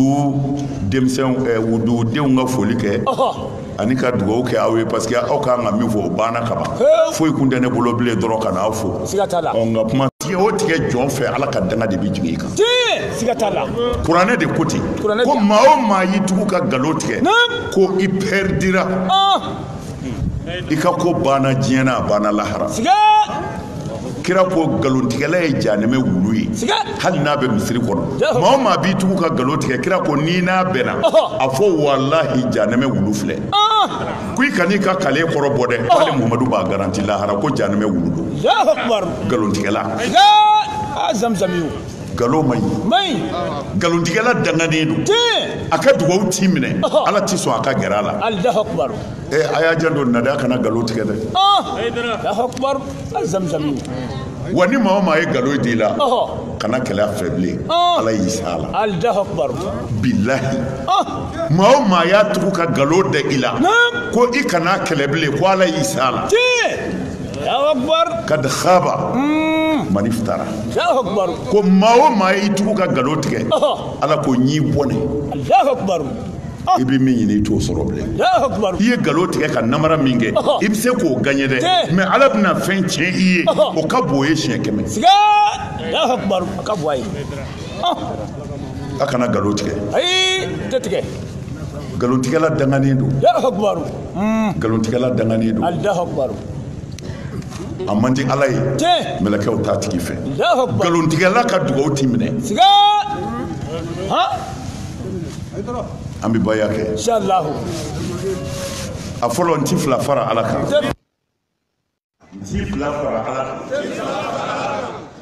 denmisɛnw u dudenw ka foli kɛ ani ka dugawu kɛ aw ye parce que aw ka kan ka min fɔ o banna ka ban foyi kun tɛ ne bolo bilen dɔrɔn ka n'aw fo nka kuma tigɛ o tigɛ jɔn fɛ ala ka danga de bɛ jigin i kan kuranɛ de ko ten ko maa o maa y'i tugu ka nkalon tigɛ ko i pɛridira ah. i ka ko banna diɲɛ na a banna lahara kira ko nkalontigɛla ye janɛmɛ wulu ye hali n'a bɛ misiri kɔnɔ maa o maa b'i tugu ka nkalon tigɛ kira ko n'i n'a bɛnna a fɔ walahi janɛmɛ wulu filɛ ko i kan'i ka kale kɔrɔ bɔ dɛ k'ale muhamadu b'a garanti lahara ko janɛmɛ wulu don nkalontigɛla nkalon man ɲi nkalontigɛla danganen don a ka dugawu ti minɛ ala tɛ sɔn a ka gɛrɛ a la ee a y'a janto a da la kana nkalon tigɛ dɛ wa ni maa o maa ye nkalon d'i la kana kɛlɛ a fɛ bilen ala y'i sa a la bilahi maa o maa y'a tugu ka nkalon da i la ko i kana kɛlɛ bilen ko ala y'i sa a la kad khaba man iftara ko maa o maa y'i tugu ka nkalon tigɛ ala ko n y'i bɔnɛ i bɛ min ɲini i t'o sɔrɔ bilen i ye nkalon tigɛ ka namara min kɛ i bɛ se k'o gaɲɛ dɛ mɛ ala bɛna fɛn tiɲɛ i ye o ka bon o ye siɲɛ kɛmɛ a kana nkalon tigɛ nkalontigɛla danganen don nkalontigɛla danganen don a man di ala ye mɛlɛkɛw t'a tigi fɛ nkalontigɛla ka dugawu ti minɛ an bɛ baya kɛ a fɔlɔ n ti fila fara ala kan n ti fila fara ala kan